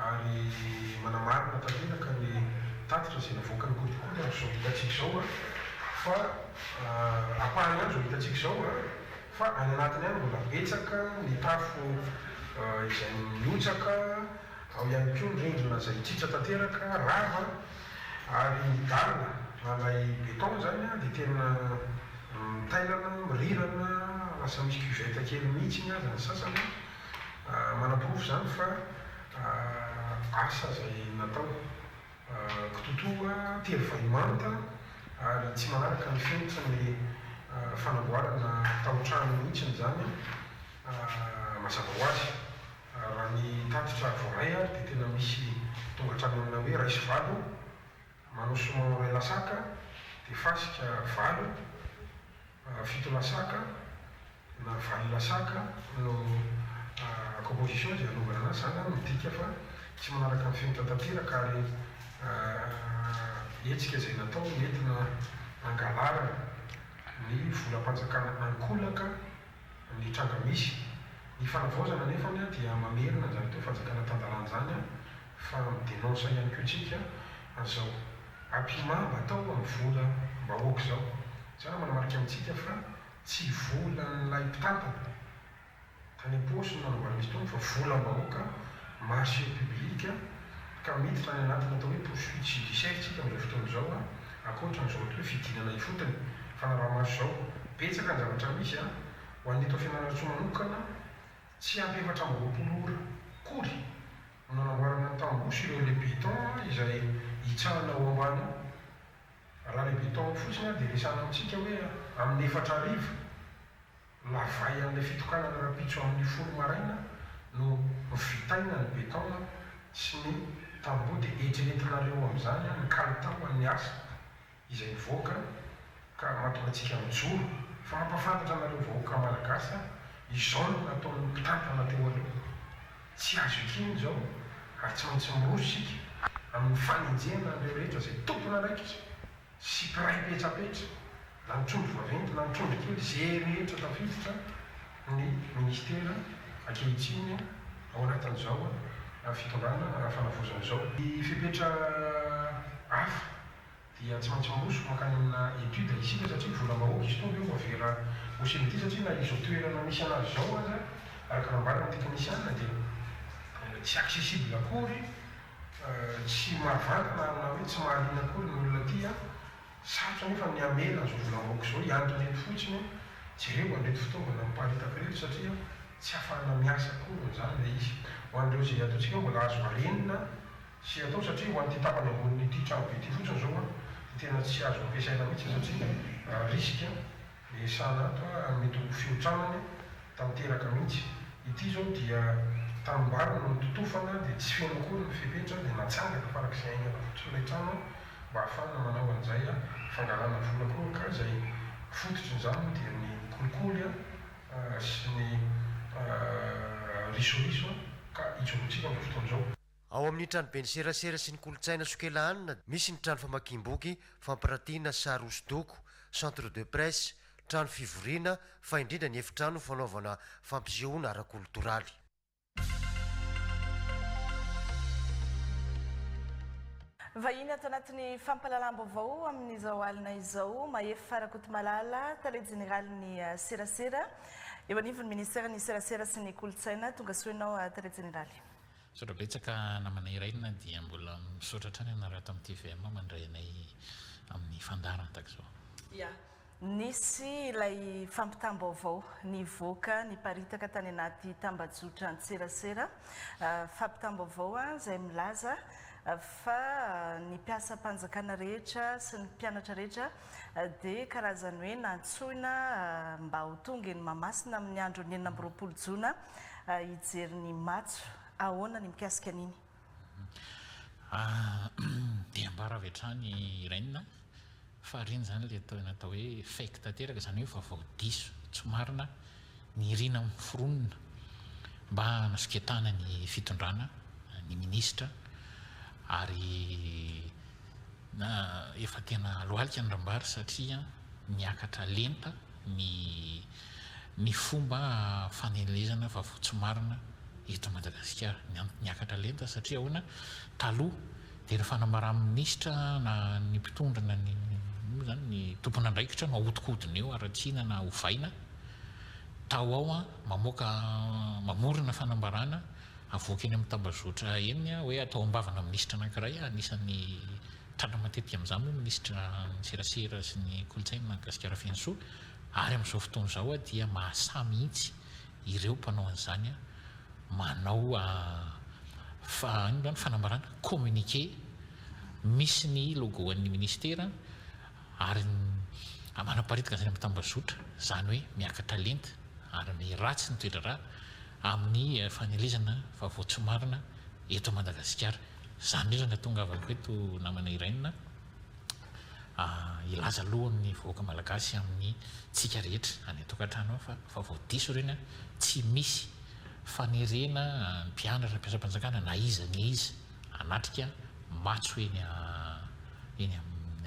ary manamarina tanteraka ny tatitra izay navoakan'ny kolikoly andro izao hitantsika izao fa ampahany andro izao hitantsika izao Fa any anatiny any mbola betsaka ny tafo izay mihotsaka, ao ihany koa ny rindrina izay tritra tanteraka, rava, ary ny dalle na ilay béton izany dia tena mitailana, mirirana, lasa misy cuvette kely mihitsiny aza ny sasany, manaporofo izany fa asa izay natao. Kitoatoa telo vay manta ary tsy manaraka ny fenitry ny fanamboarana taotrano mihitsiny izany mazava ho azy. Raha ny tatitra voaray ary dia tena misy tonga hatrany amina hoe iray sy valo, manao soumon iray lasaka dia fasika valo, fito lasaka. Na valona saka no composition izay anaovana anazy, izany zany midika fa tsy manaraka ny fenitra tanteraka ary hetsika izay natao nentina hangalarana ny volam-panjakana ankolaka ny tranga misy. Ny fanavaozana anefany dia mamerina an'izany atao hoe fanjakana tan-dalàna izany fa mi-denonce ihany koa tsika an'izao apiment mba atao amin'ny volam-bahoaka izao. Izany manamarika amintsika fa. Tsy volan'ilay mpitantana tany am-paosiny na nambaran'ny mpitondra fa volam-bahoaka, marché public, ka miditra any anatin'ny atao hoe poursuite judiciaire isika amin'izao fotoana izao a, ankoatran'izao atao hoe fidinana ifotony, fanaraha-maso izao. Betsaka ny zavatra misy a! Ho an'i Eto Fianarantsoa manokana, tsy ampy efatra amby roapolo ora akory no nanamboarana ny tamboho sy ireo relais béton izay hitsahana ao ambany ao. Raha ny beton fotsiny ary dia resahana amintsika hoe amin'ny efatra hariva, lavay an'ilay fitokanana rahampitso amin'ny folo maraina no vitaina ny beton sy ny tamboho dia eritreretinareo amin'izany ny kalitao an'ny asa izay mivoaka ka mahatonga antsika mijoro fa mampafantatra anareo vahoaka malagasy izao no nataon'ny mpitantana teo aloha. Tsy azo ekenina izao ary tsy maintsy miroso isika amin'ny fanenjehana an'ireo rehetra izay tompon'andraikitra sy mpiray petrapetra, na ny trondro vaventy na ny trondro kely, izay rehetra tafiditra ny Ministera ankehitriny ao anatin'izao fitondrana ara-fanavozana izao. Ny fepetra hafa dia tsy maintsy miroso mankany amina étude isika satria volam-bahoaka izy tonga eo fa vera ho simba ity satria na izao toerana misy anazy izao aza araka nambaran'ny teknisiana dia tsy accessible akory tsy mahavantana na hoe tsy mahaliana akory ny olona aty an! sarotra nefa ny hamela an'izao volam-bahoaka izao hiantona eto fotsiny an! jereo an'ireto fitaovana miparitaka ireto satria tsy ahafahana miasa akory amin'izany ilay izy ho an'ireo izay ataontsika hoe mbola azo arenina Tsy atao satria ho an'ity tapany ambonin'ity trano be ity fotsiny izao an, dia tena tsy azo ampiasaina mihitsy satria risque an, dia sahan'ato an mety ho fihotranany tanteraka mihitsy. Ity izao dia tanimbary no nototofana dia tsy feno akory ny fepetra dia natsangana farak'izay haingana fotsiny ilay trano an, mba hahafahana manao an'izay an, fangalana vola koa ka izay fototr'in'izany dia ny kolikoly an sy ny risoriso an, ka ijoroantsika amin'izao fotoana izao. Ao amin' ny Tranoben'ny serasera sy ny kolontsaina Sokelahanina misy ny trano famakiam-boky, fampirantiana, sary hosodoko, centre de presse, trano fivoriana, fa indrindra ny efitrano fanaovana fampisehoana ara-kolotoraly. Vahiny ato anatin'ny fampahalalam-baovao amin'izao alina izao, Mahefa Rakotomalala, tale jeneralin'ny serasera eo anivon'ny ministeran'ny serasera sy ny kolontsaina. Tongasoa ianao tale jeneraly. Misaotra betsaka namana Irène dia mbola misaotra hatrany anareo ato amin'ny tvm mandray anay amin'ny fandaharana tahaka izao. Ya, nisy ilay fampitam-baovao nivoaka niparitaka tany anaty tambajotra an-tserasera, fampitam-baovao izay milaza fa ny mpiasam-panjakana rehetra sy ny mpianatra rehetra dia karazany hoe nantsoina mba ho tonga eny Mahamasina amin'ny andron'ny enina amby roapolo jona hijery ny matso. Ahoana ny mikasika an'iny? Dia ambara avy hatrany Irene fa ireny izany ilay atao hoe fake tanteraka, izany hoe vaovao diso, tsy marina, Nirina amin'ny mpiforonina mba hanosiketahana ny fitondrana ny minisitra ary efa tena lohalika ny rambary satria niakatra lenta ny ny fomba fanelezana vaovao tsy marina eto Madagasikara. Niakatra lenta satria ahoana? Taloha Dia ny fanamaran'ny minisitra na ny mpitondra na ny moa izany ny tompon'andraikitra no ahodikodina eo, haratsiana na ovaina, tao ao an, mamoaka mamorona fanambarana, avoaka eny amin'ny tambazotra eny hoe atao am-bavanà minisitra anankiray, anisan'ny tratra matetika amin'izany moa minisitra ny serasera sy ny kolontsaina Gasikara Fenosoa, ary amin'izao fotoana izao dia mahasà mihitsy ireo mpanao an'izany. manao fa inona moa ny fanambarana, communiqué misy ny logo an'ny ministera ary manaparidikan' izany amin'ny tambazotra, izany hoe miakatra lenta ary ny ratsy ny toedraharaha amin'ny fanelezana vaovao tsy marina eto Madagasikara, izany indrindra no nahatongavako eto namana i Rainina. hilaza aloha amin'ny vahoaka malagasy amin'ny tsika rehetra any an-tokantrano ao fa efa vao diso ireny an, tsy misy fanerena ny mpianatra mpiasam-panjakana na iza na iza hanatrika matso eny eny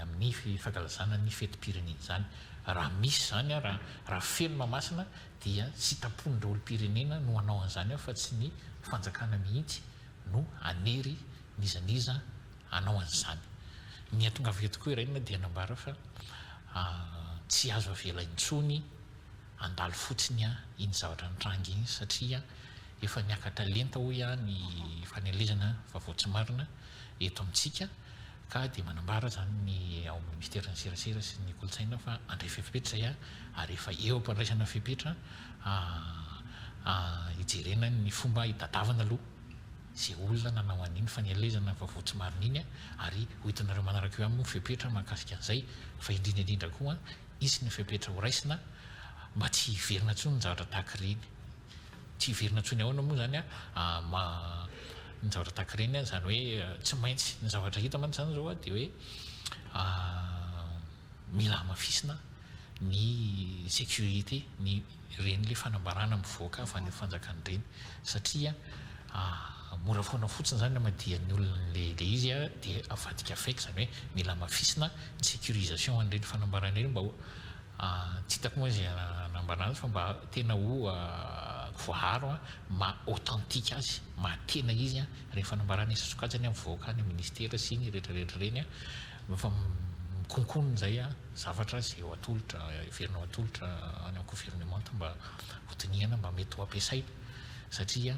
amin'ny fankalazana ny fetim-pirenena izany, raha misy izany an, raha feno Mahamasina dia sitrapon'ny daholo-pirenena no hanao an'izany ao fa tsy ny fanjakana mihitsy no hanery n'iza n'iza hanao an'izany. Ny hatongaviako tokoa i Rainina dia nambara fa tsy azo avela intsony handalo fotsiny iny zavatra nitranga iny satria efa niakatra lenta hoy ny fanelezana vaovao tsy marina eto amintsika ka dia manambara izany ny ao amin'ny minisiteran'ny serasera sy ny kolontsaina fa handray fepetra izay ary efa eo am-pandraisana fepetra hijerena ny fomba hitadiavana aloha izay olona nanao an'iny faneaelezana vaovao tsy marina iny ary ho hitanareo manaraka eo aminy ny fepetra mahakasika an'izay fa indrindra indrindra koa hisy ny fepetra ho raisina mba tsy hiverina intsony ny zavatra tahaka ireny tsy hiverina intsony ahoana moa izany ny zavatra tahaka ireny izany hoe tsy maintsy ny zavatra hita mantsy izany izao dia hoe mila hamafisina ny sécurité ny ireny le fanambarana mivoaka avy any amin'ny fanjakana ireny satria mora foana fotsiny izany hamadihan'ny olona ilay izy dia avadika avec izany hoe mila hamafisina ny sécurisation an'ireny fanambarana ireny mba ho tsy hitako moa izay hanambara azy fa mba tena ho voaaro maha authentique azy maha tena izy ireny fanambarana isan-tsokajiny mivoaka any amin'ny ministera sy ny rehetra rehetra ireny Mba fa mikonkona indray a! zavatra izay eo atolotra, heverinao atolotra any amin'ny governemanta mba ho dinihana mba mety ho ampiasaina satria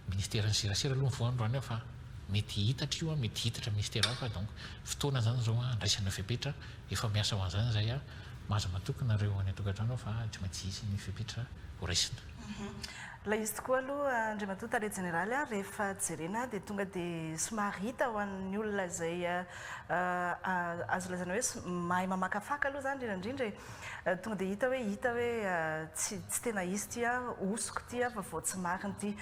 ministeran'ny serasera aloha ny voalohany raha ny ahy fa mety hihitatra io a, mety hihitatra ministera hafa donc fotoana izany izao handraisana fepetra efa miasa ho an'izany izay a! maza matoky nareo any an-tokantrano ao fa tsy maintsy hisy ny fepetra ho raisina. Ilay izy tokoa aloha Andriamatoa Tale Jeneraly a, rehefa jerena dia tonga dia somary hita ho an'ny olona izay Azo lazaina hoe mahay mamakafaka aloha izany indrindra indrindra e. Tonga dia hita hoe hita hoe tsy tsy tena izy ity an, hosoka ity an fa vao tsy marina ity.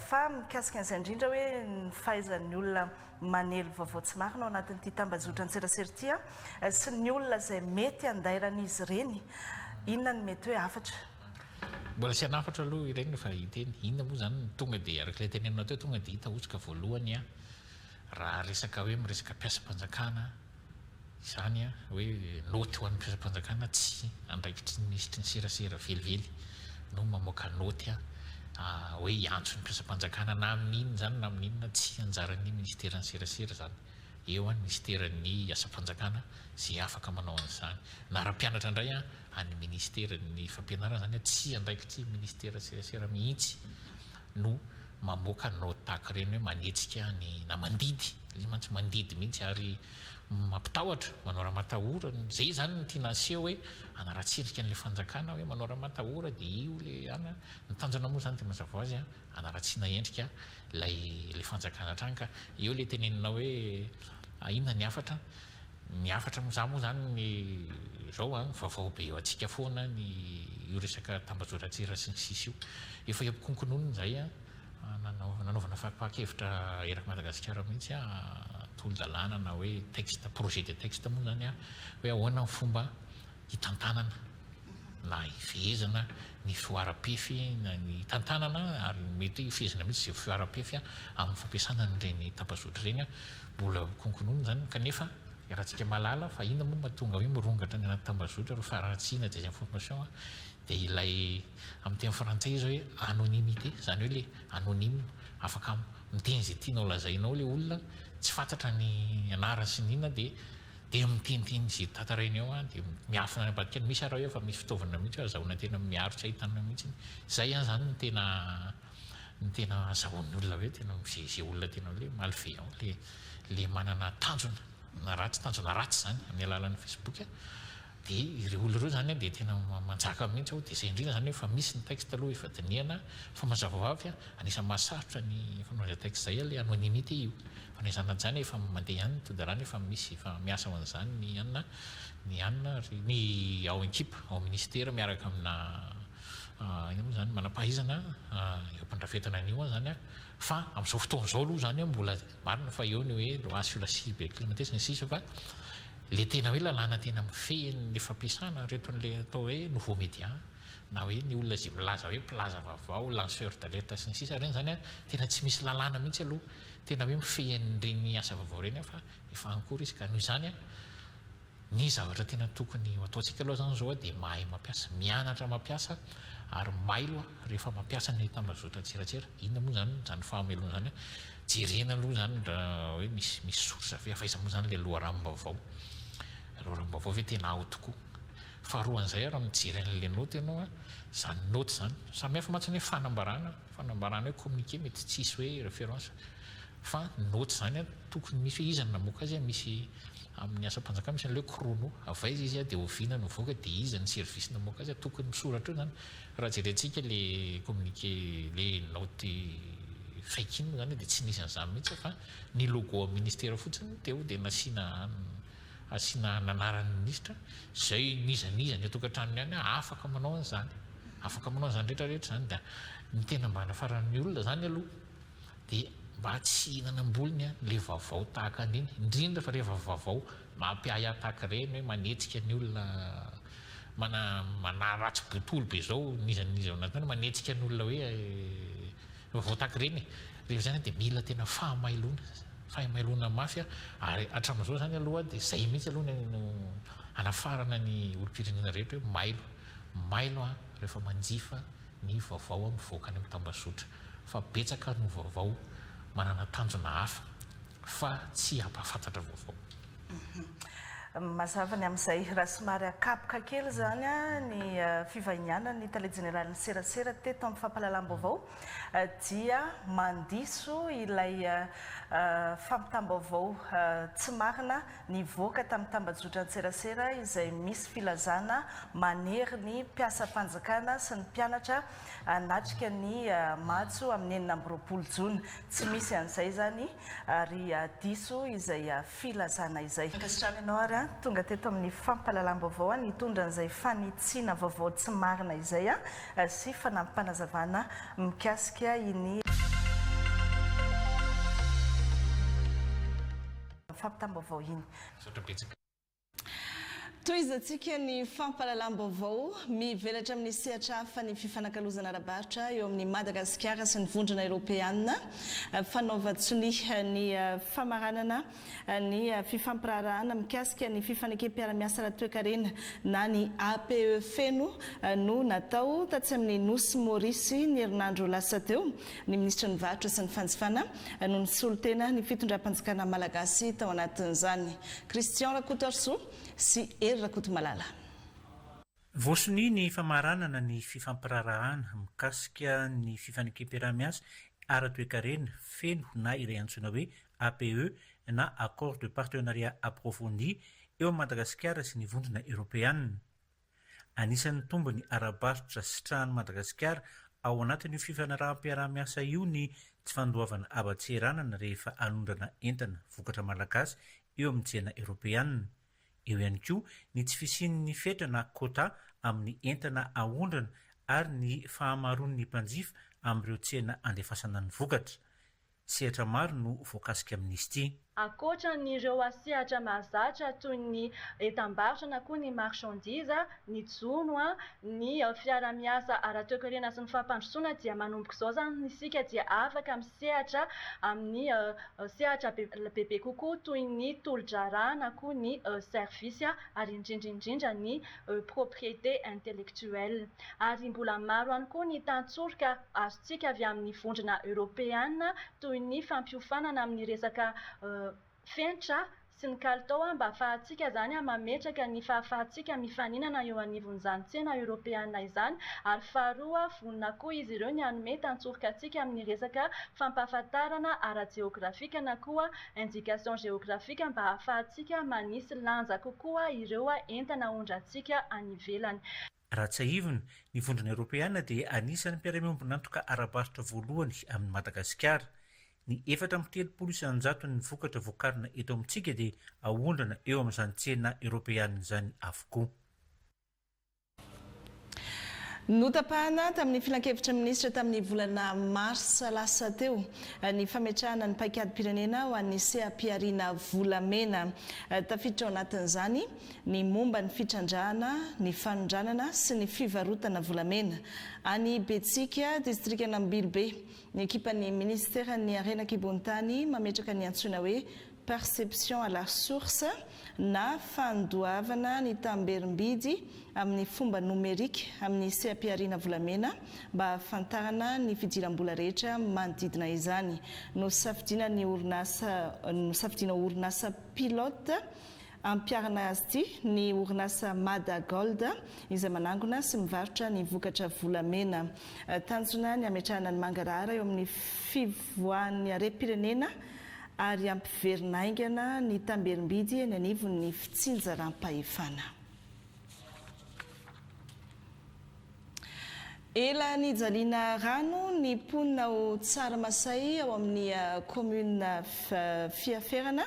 Fa mikasika an'izay indrindra hoe ny fahaizan'ny olona manely vaovao tsy marina ao anatin'ity tambazotran-tserasera ity an, sy ny olona izay mety handairan'izy ireny, inona no mety hoe hafatra? Mbola tsy hanafatra aloha ireny fa hiteny. Inona moa izany no tonga dia, araka ilay tenenina teo, tonga dia hita hosoka voalohany an? Raha resaka hoe miresaka mpiasam-panjakana izany an, hoe naoty ho an'ny mpiasam-panjakana tsy andraikitry ny minisitry ny serasera velively no mamoaka naoty hoe hiantso ny mpiasam-panjakana na amin'ny inona izany na amin'ny inona, tsy anjaran'ny minisiteran'ny serasera izany. Eo an, ny minisiteran'ny asam-panjakana izay afaka manao an'izany. Na raha mpianatra indray an, an'ny minisiteran'ny fampianarana izany an, tsy andraikitry ny minisiteran'ny serasera mihitsy no mamoaka ny note tahaka ireny hoe manetsika ny na mandidy le mantsy mandidy mihitsy ary mampitahotra manao raha matahora zay izany no tiana aseho hoe hanaratsirika an'ilay fanjakana hoe manao raha matahora dia io le ana ny tanjona moa izany dia mazava ho azy a hanaratsiana endrika ilay ilay fanjakana hatrany ka eo ilay teneninao hoe inona ny hafatra Ny hafatra amin'izany moa izany ny izao an, vaovao be eo antsika foana ny io resaka tambajotran-tsira sy ny sisa io. Efa eo am-konkononiny izay an, nanaovana faripahan-kevitra eraky Madagasikara mihitsy an, tolodalàna na hoe texte, projet de texte moa izany an, hoe ahoana ny fomba hitantanana na hifehezana ny fihoaram-pefy na ny hitantanana ary mety hoe hifehezana mihitsy izay fihoaram-pefy amin'ny fampiasana an'ireny tambazotra ireny. Mbola ho konkonoina izany kanefa iarahantsika mahalala fa inona moa no mahatonga hoe mirongatra any anaty tambazotra ireo faharatsiana, désinformation, dia ilay amin'ny teny frantsay izy hoe anonymité, izany hoe ilay anonyme, afaka miteny izay tianao lazainao ilay olona, tsy fantatra ny anarany sy ny inona dia Dia mitinitiny izay tantaraina eo aho dia miafina any ambadika any misy ary aho eo fa misy fitaovana mihitsy hoe azahoana tena miaro tsy ahitana mihitsy izay an izany no tena no tena azahoan'ny olona avy eo tena izay izay olona tena hoe malveillant ilay ilay manana tanjona na ratsy tanjona ratsy izany amin'ny alalan'ny facebook dia ireo olona ireo izany an dia tena manjaka mihitsy aho dia izay indrindra izany hoe efa misy ny texte aloha efa dinihana fa mazava ho avy an anisan'ny mahasarotra ny fanaovana izay texte izay an ilay anonymité io Fa ny zanany zany efa mandeha ihany ny tondalana efa misy efa miasa ao an'izany ny anona ny anona ary ny ao an-kipa ao minisitera miaraka amina inona moa izany manam-pahaizana eo am-pandrafetana an'io an zany fa amin'izao fotoana izao aloha zany mbola marina fa eo ny hoe loi sur la cyber criminalité sy ny sisa fa le tena hoe lalàna tena mifehy ny fampiasana ireto an'le atao hoe nouveau media na hoe ny olona izay milaza hoe mpilaza vaovao lanceur d'alerte sy ny sisa ireny zany an tena tsy misy lalàna mihitsy aloha Tena hoe mifehy an'ireny asa vaovao ireny aho fa efa an-cours izy ka noho izany ny zavatra tena tokony ho ataontsika aloha izany izao dia mahay mampiasa, mianatra mampiasa ary mailo rehefa mampiasa ny tambazotra an-tserasera. Inona moa izany izany fahamelohana izany? Jerena aloha izany raha hoe misy misy source ve, avy aiza moa izany ilay loharanom-baovao? Loharanom-baovao ve tena ao tokoa? Faharoan'izay ary mijery an'ilay naoty ianao, izany naoty izany, samy hafa mantsy ny hoe fanambarana, Fanambarana hoe communiqué mety tsisy hoe référence fa note zany an tokony misy hoe iza no namoaka azy an misy amin'ny asam-panjakana misy an'ilay hoe chrono avy aiza izy an dia oviana no nivoaka dia iza ny service namoaka azy an tokony misoratra eo zany raha jerentsika ilay communiqué ilay note fake iny moa zany dia tsy nisy an'izany mihitsy fa ny logo amin'ny ministère fotsiny no teo dia nasiana Asiana ny anaran'ny minisitra izay n'iza n'iza any an-tokantranony any aho afaka manao an'izany. Afaka manao an'izany rehetra rehetra izany dia ny tena mba hanafaran'ny olona izany aloha dia mba tsy hihinana am-bolony ilay vaovao tahaka an'iny indrindra fa rehefa vaovao mampiahy ahy tahaka ireny hoe manetsika ny olona mana manaratsy botolo be izao n'iza n'iza ao anatiny manetsika ny olona hoe Voataky ireny rehefa izany dia mila tena fahamailoana, fahamailoana mafy ary hatramin'izao izany aloha dia izay mihitsy aloha no hanafarana ny olom-pirenena rehetra hoe mailo, mailo rehefa manjifa ny vaovao mivoaka any amin'ny tambazotra fa betsaka no vaovao manana tanjona hafa fa tsy hampahafantatra vaovao. Mazava ny amin'izay. Raha somary akapoka kely izany ny fivahinianan'ny tale jeneralin'ny serasera teto amin'ny fampahalalam-baovao dia mandiso ilay fampitam-baovao tsy marina nivoaka tamin'ny tambajotran-tserasera izay misy filazana manery ny mpiasam-panjakana sy ny mpianatra hanatrika ny matso amin'ny enina amby roapolo jona. Tsy misy an'izay izany Ary diso izay filazana izay. Mankasitraka anao ary an! Tonga teto amin'ny fampahalalam-baovao aho nitondra an'izay fanitsiana vaovao tsy marina izay sy fanampanazavana mikasika iny fampitam-baovao iny. Tohizantsika ny fampahalalam-baovao. Mivelatra amin'ny sehatra hafa ny fifanakalozana ara-barotra eo amin'i Madagasikara sy ny Vondrona Eoropeanina. Fanaovan-tsonia ny famaranana ny fifampiraharahana mikasika ny fifanekem-piara-miasa ara-toekarena na ny APE feno no natao tatsy amin'ny Nosy Maurice ny herinandro lasa teo. Ny minisitry ny Varotra sy ny fanjifana no nisolo tena ny fitondram-panjakana malagasy tao anatin'izany. Christian Rakotoarisoa sy Hery Rakotomalala. Voasonia ny famaranana ny fifampiraharahana mikasika ny fifanekem-piaraha-miasa ara-toekarena feno na ilay antsoina hoe APE na Accord de Partenariat Approfondi eo amin'i Madagasikara sy ny Vondrona Eoropeana. Anisan'ny tombony ara-barotra sitrahan'i Madagasikara ao anatin'io fifanaraham-piaraha-miasa io ny tsy fandoavana haba-tseranana rehefa hanondrana entana vokatra malagasy eo amin'ny tsena eoropeanina. Eo ihany koa ny tsy fisian'ny fetra na quota amin'ny entana ahondrana ary ny fahamaroan'ny mpanjifa amin'ireo tsena andefasana ny vokatra. Sehatra maro no voakasika amin'ny sty. Ankoatra ny ireo sehatra mahazatra toy ny entam-barotra na koa ny marchandises, ny jono, ny fiara-miasa ara-toekarena sy ny fampandrosoana dia manomboka izao izany isika dia afaka misehatra amin'ny sehatra bebe kokoa toy ny tolo-draharaha na koa ny services ary indrindra indrindra ny propriété intellectuelle. Ary mbola maro ihany koa ny tantsoroka azo tsika avy amin'ny vondrona eoropeana toy ny fampiofanana amin'ny resaka fenitra sy ny kalitao mba hahafahantsika izany mametraka ny fahafahantsika mifaninana eo anivon'izany tsena eoropeana izany ary faharoa vonona koa izy ireo ny hanome tantsoroka antsika amin'ny resaka fampahafantarana ara-jeografika na koa indication géographique mba hahafahantsika manisy lanja kokoa ireo entana ahondrantsika any ivelany. Raha tsiahivina, ny Vondrona Eoropeana dia anisan'ny mpiara-miombon'antoka ara-barotra voalohany amin'i Madagasikara. Ny efatra amby telopolo isan-jaton'ny vokatra vokarina eto amintsika dia aondrana eo amin'izany tsena eoropeana izany avokoa. Notapahana tamin'ny Filankevitry ny Minisitra tamin'ny volana marsa lasa teo ny fametrahana ny paikadim-pirenena ho an'ny seha-pihariana volamena. Tafiditra ao anatin'izany ny momba ny fitrandrahana ny fanondranana sy ny fivarotana volamena any Betsiaka, distrikan'Ambilobe, ny ekipan'ny minisiteran'ny Harena an-kibontany mametraka ny antsoina hoe perception à la source na fandoavana ny tamberim-bidy amin'ny fomba nomerika amin'ny seha-pihariana volamena mba hahafantarana ny fidiram-bola rehetra manodidina izany. Nosafidiana ny orinasa Nosafidiana ho orinasa pilote Ampiharina azy ity ny orinasa Mada Gold izay manangona sy mivarotra ny vokatra volamena. Tanjona ny hametrahana ny mangarahara eo amin'ny fivoahan'ny harem-pirenena ary hampiverina haingana ny tamberim-bidy eny anivon'ny fitsinjaram-pahefana. Ela nijaliana rano ny mponina ao Tsaramasay ao amin'ny kaominina Fiaferana,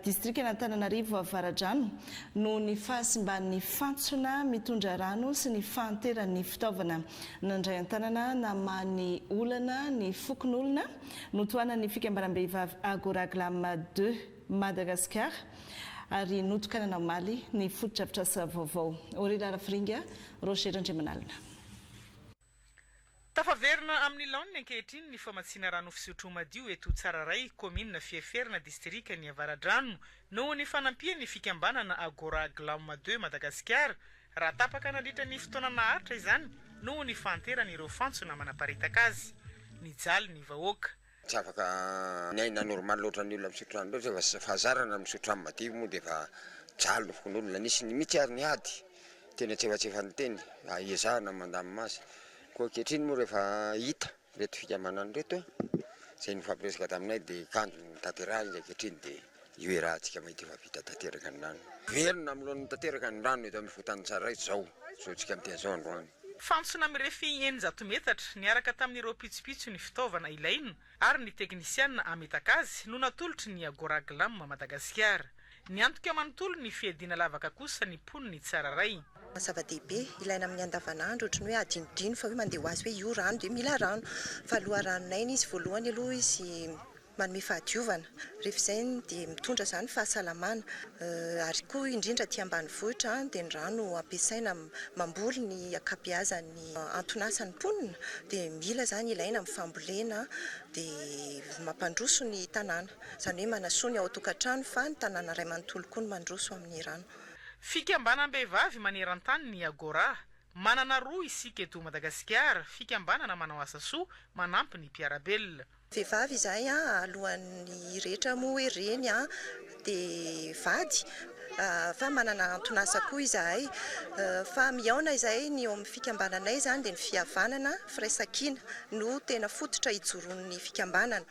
distrikan'Antananarivo Avaradrano noho ny fahasimban'ny fantsona mitondra rano sy ny fahanteran'ny fitaovana. Nandray an-tanana namaha ny olana ny fokonolona notohanan'ny fikambanam-behivavy Agora Glam deux. Madagasikara, ary notokanana omaly ny fotodrafitrasa vaovao. Orela Rafiringa, Roger Randriamanalina. Tafaverina amin'ny laoniny ankehitriny ny famatsiana rano fisotro madio eto Tsararay, kaominina Fieferina, distrikan'ny Avaradrano, noho ny fanampian'ny fikambanana Agora Glam de Madagasikara, raha tapaka nandritra ny fotoana naharitra izany noho ny fahanteran'ireo fantsona manaparitaka azy. Nijaly ny vahoaka. Tsy afaka miaina normal ohatran'ny olona misotro rano loatra fa fahazarana ny misotro rano madio moa dia efa jalo ny fokonolona. Nisy mihitsy ary nihady teny antsefatsefany teny mba hiezahana ny mandamina azy. Koa ankehitriny moa rehefa hita ireto fikamanana ireto izay nifampiresaka taminay dia kanjo no tanterahina izy ankehitriny dia. Io iaraha antsika amin'ny ity fa vita tanteraka ny rano. Velona amin'ny laoniny tanteraka ny rano eto amin'ny fotan'ny Tsararay izao. Zoantsika amin'ny teny izao androany. Fantsona mirefy eninjato metatra, niaraka tamin'ireo pitsopitso ny fitaovana ilaina ary ny teknisiana hametaka azy no natolotry ny Agora Glam Madagasikara. Niantoka manontolo ny fiadiana lavaka kosa ny mponin'i Tsararay. Zava-dehibe, ilaina amin'ny andavanandro, ohatry ny hoe hadinodino fa hoe mandeha ho azy hoe io rano dia mila rano. Fa loharanonay ny izy voalohany aloha izy. Manome fahadiovana, rehefa izay dia mitondra izany fahasalamana ary koa indrindra aty ambanivohitra dia ny rano ampiasaina mamboly ny ankabeazan'ny anton'asan'ny mponina dia mila izany ilaina amin'ny fambolena dia mampandroso ny tanàna, izany hoe manasoa ny ao an-tokantrano fa ny tanàna iray manontolo koa no mandroso amin'ny rano. Fikambanam-behivavy maneran-tany ny Agora. Manana roa isika eto Madagasikara, fikambanana manao asa soa, manampy ny mpiara-belona. Vehivavy izahay a, alohan'ny rehetra moa hoe reny a, dia vady, fa manana anton'asa koa izahay, fa mihaona izahay, ny eo amin'ny fikambananay izany dia ny fihavanana, firaisankina no tena fototra ijoroan'ny fikambanana,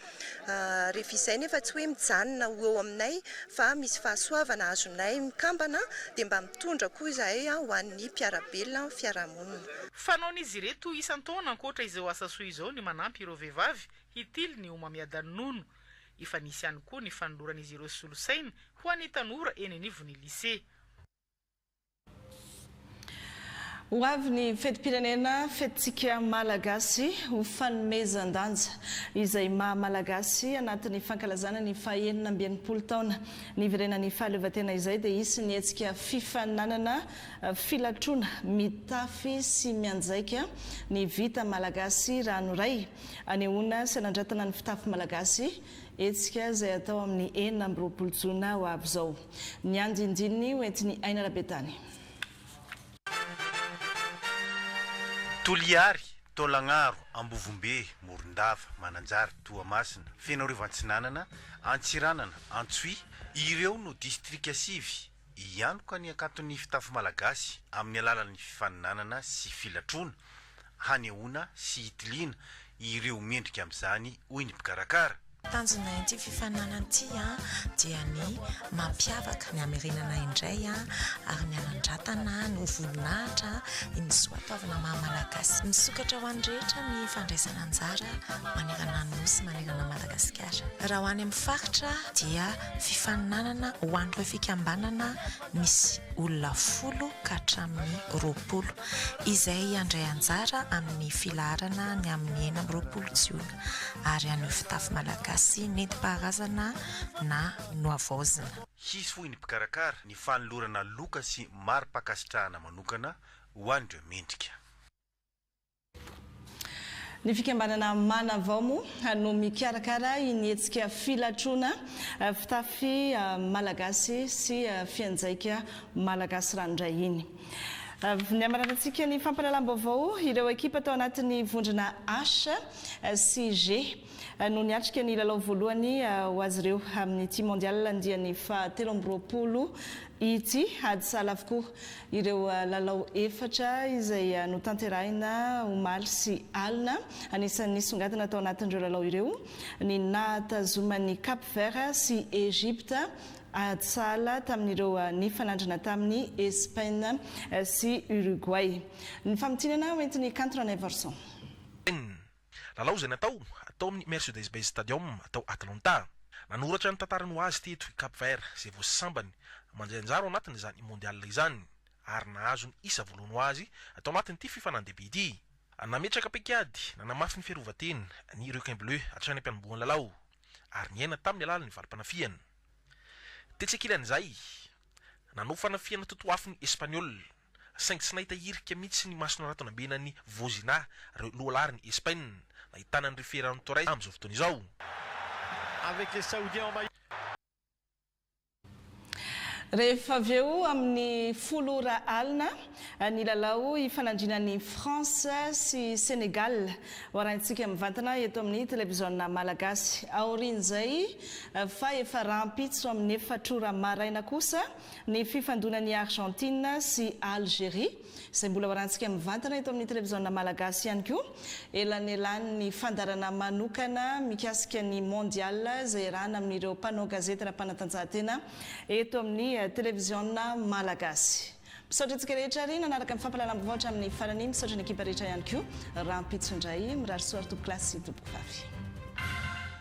rehefa izay nefa tsy hoe mijanona ho eo aminay fa misy fahasoavana azonay mikambana dia mba mitondra koa izahay ho an'ny mpiara-belona amin'ny fiarahamonina. Fanaon'izy ireto isan-taona ankoatra izao asa soa izao ny manampy ireo vehivavy hitily ny homamiadan-nono. Efa nisy ihany koa ny fanoloran'izy ireo solosaina ho an'ny tanora eny anivon'ny lisea. Ho avy ny fetim-pirenena, fetintsika Malagasy, ho fanomezan-danja izay maha Malagasy anatin'ny fankalazana ny fahenina amby enimpolo taona niverenan'ny fahaleovantena izay dia hisy ny hetsika fifaninanana Filatroana mitafy sy mianjaika ny vita malagasy ranoray, anehoana sy anandratana ny fitafy malagasy, hetsika izay hatao amin'ny enina amby roapolo jona ho avy izao. Ny andinindininy ho entin'i Aina Rabetany. Toliary, Taolagnaro, Ambovombe, Morondava, Mananjary, Toamasina, Fenoarivo Antsinanana, Antsiranana, Antsohihy, ireo no distrika sivy Hianoka ny hakanton'ny fitafy malagasy amin'ny alalan'ny fifaninanana sy filatroana, hanehoana sy hitiliana ireo mendrika amin'izany, hoy ny mpikarakara. Tanjona ity fifaninanana ity dia ny mampiavaka ny hamerenana indray ary ny hanandratana ny ho voninahitra ny soatoavina maha Malagasy. Misokatra ho an'ny rehetra ny fandraisana anjara manerana ny Nosy manerana an'i Madagasikara. Raha ho any amin'ny faritra dia. Fifaninanana ho an'ireo fikambanana misy olona folo ka hatramin'ny roapolo, izay handray anjara amin'ny filaharana ny amin'ny enina amby roapolo jiona, ary haneho fitafy malagasy nentim-paharazana na nohavaozina. Hisy, hoy ny mpikarakara, ny fanolorana loka sy mari-pankasitrahana manokana ho an'ireo mendrika. Ny fikambanana Manavao moa no mikarakara iny hetsika filatroana fitafy malagasy sy fianjaika malagasy ranoray iny. Ny hamaranan-tsika ny fampahalalam-baovao, ireo ekipa tao anatin'ny vondrona H sy G no niatrika ny lalao voalohany ho azy ireo amin'ity Mondial andiany fahatelo amby roapolo Ity ady sahala avokoa ireo lalao efatra izay notanterahina omaly sy alina. Anisan'ny nisongadina tao anatin'ireo lalao ireo ny nahatazoman'i Cap Vert sy Egypte ady sahala tamin'ireo nifanandrina tamin'i Espaina sy Uruguay. Ny famintinana hoentin'i Kanto Ranaivorison. Inn. Lalao izay natao tao amin'ny Mercedes-Benz Stadium tao Atlanta. Nanoratra ny tantarany ho azy teto i Cap Vert izay vao sambany mandray anjara ao anatin'izany Mondial izany ary nahazo ny isa voalohany ho azy tao anatin'ity fifanan-dehibe ity. Nametraka paik'ady nanamafy ny fiarovan-tena ny Requins Bleus hatrany am-panombohan'ny lalao ary niaina tamin'ny alalan'ny valim-panafihana. Tetsy ankilan'izay, nanao fanafihana totoafo ny Espaniôla. saingy tsy nahita hirika mihitsy ny maso naratonambena an'i Vozina ireo lohalaharin'i Espaina, nahitana an'ireo Ferran Torres amin'izao fotoana izao. Rehefa avy eo amin'ny folo ora alina, ny lalao hifanandriana an'i France sy Sénégal ho arahintsika mivantana eto amin'ny televiziona Malagasy. Aorian'izay, fa efa rahampitso amin'ny efatra ora maraina kosa, Ny fifandonan'i Argentine sy Algerie, izay mbola hoarantsika mivantana eto amin'ny televiziona malagasy ihany koa, elanelan'ny fandaharana manokana mikasika ny Mondial izay iarahana amin'ireo mpanao gazety ara-panatanjahantena eto amin'ny televiziona malagasy. Misaotra antsika rehetra ary nanaraka ny fampahalalam-baovao hatramin'ny farany. Misaotra ny ekipa rehetra ihany koa, rahampitso indray, mirary soa ary tompokolahy sy tompokofavy.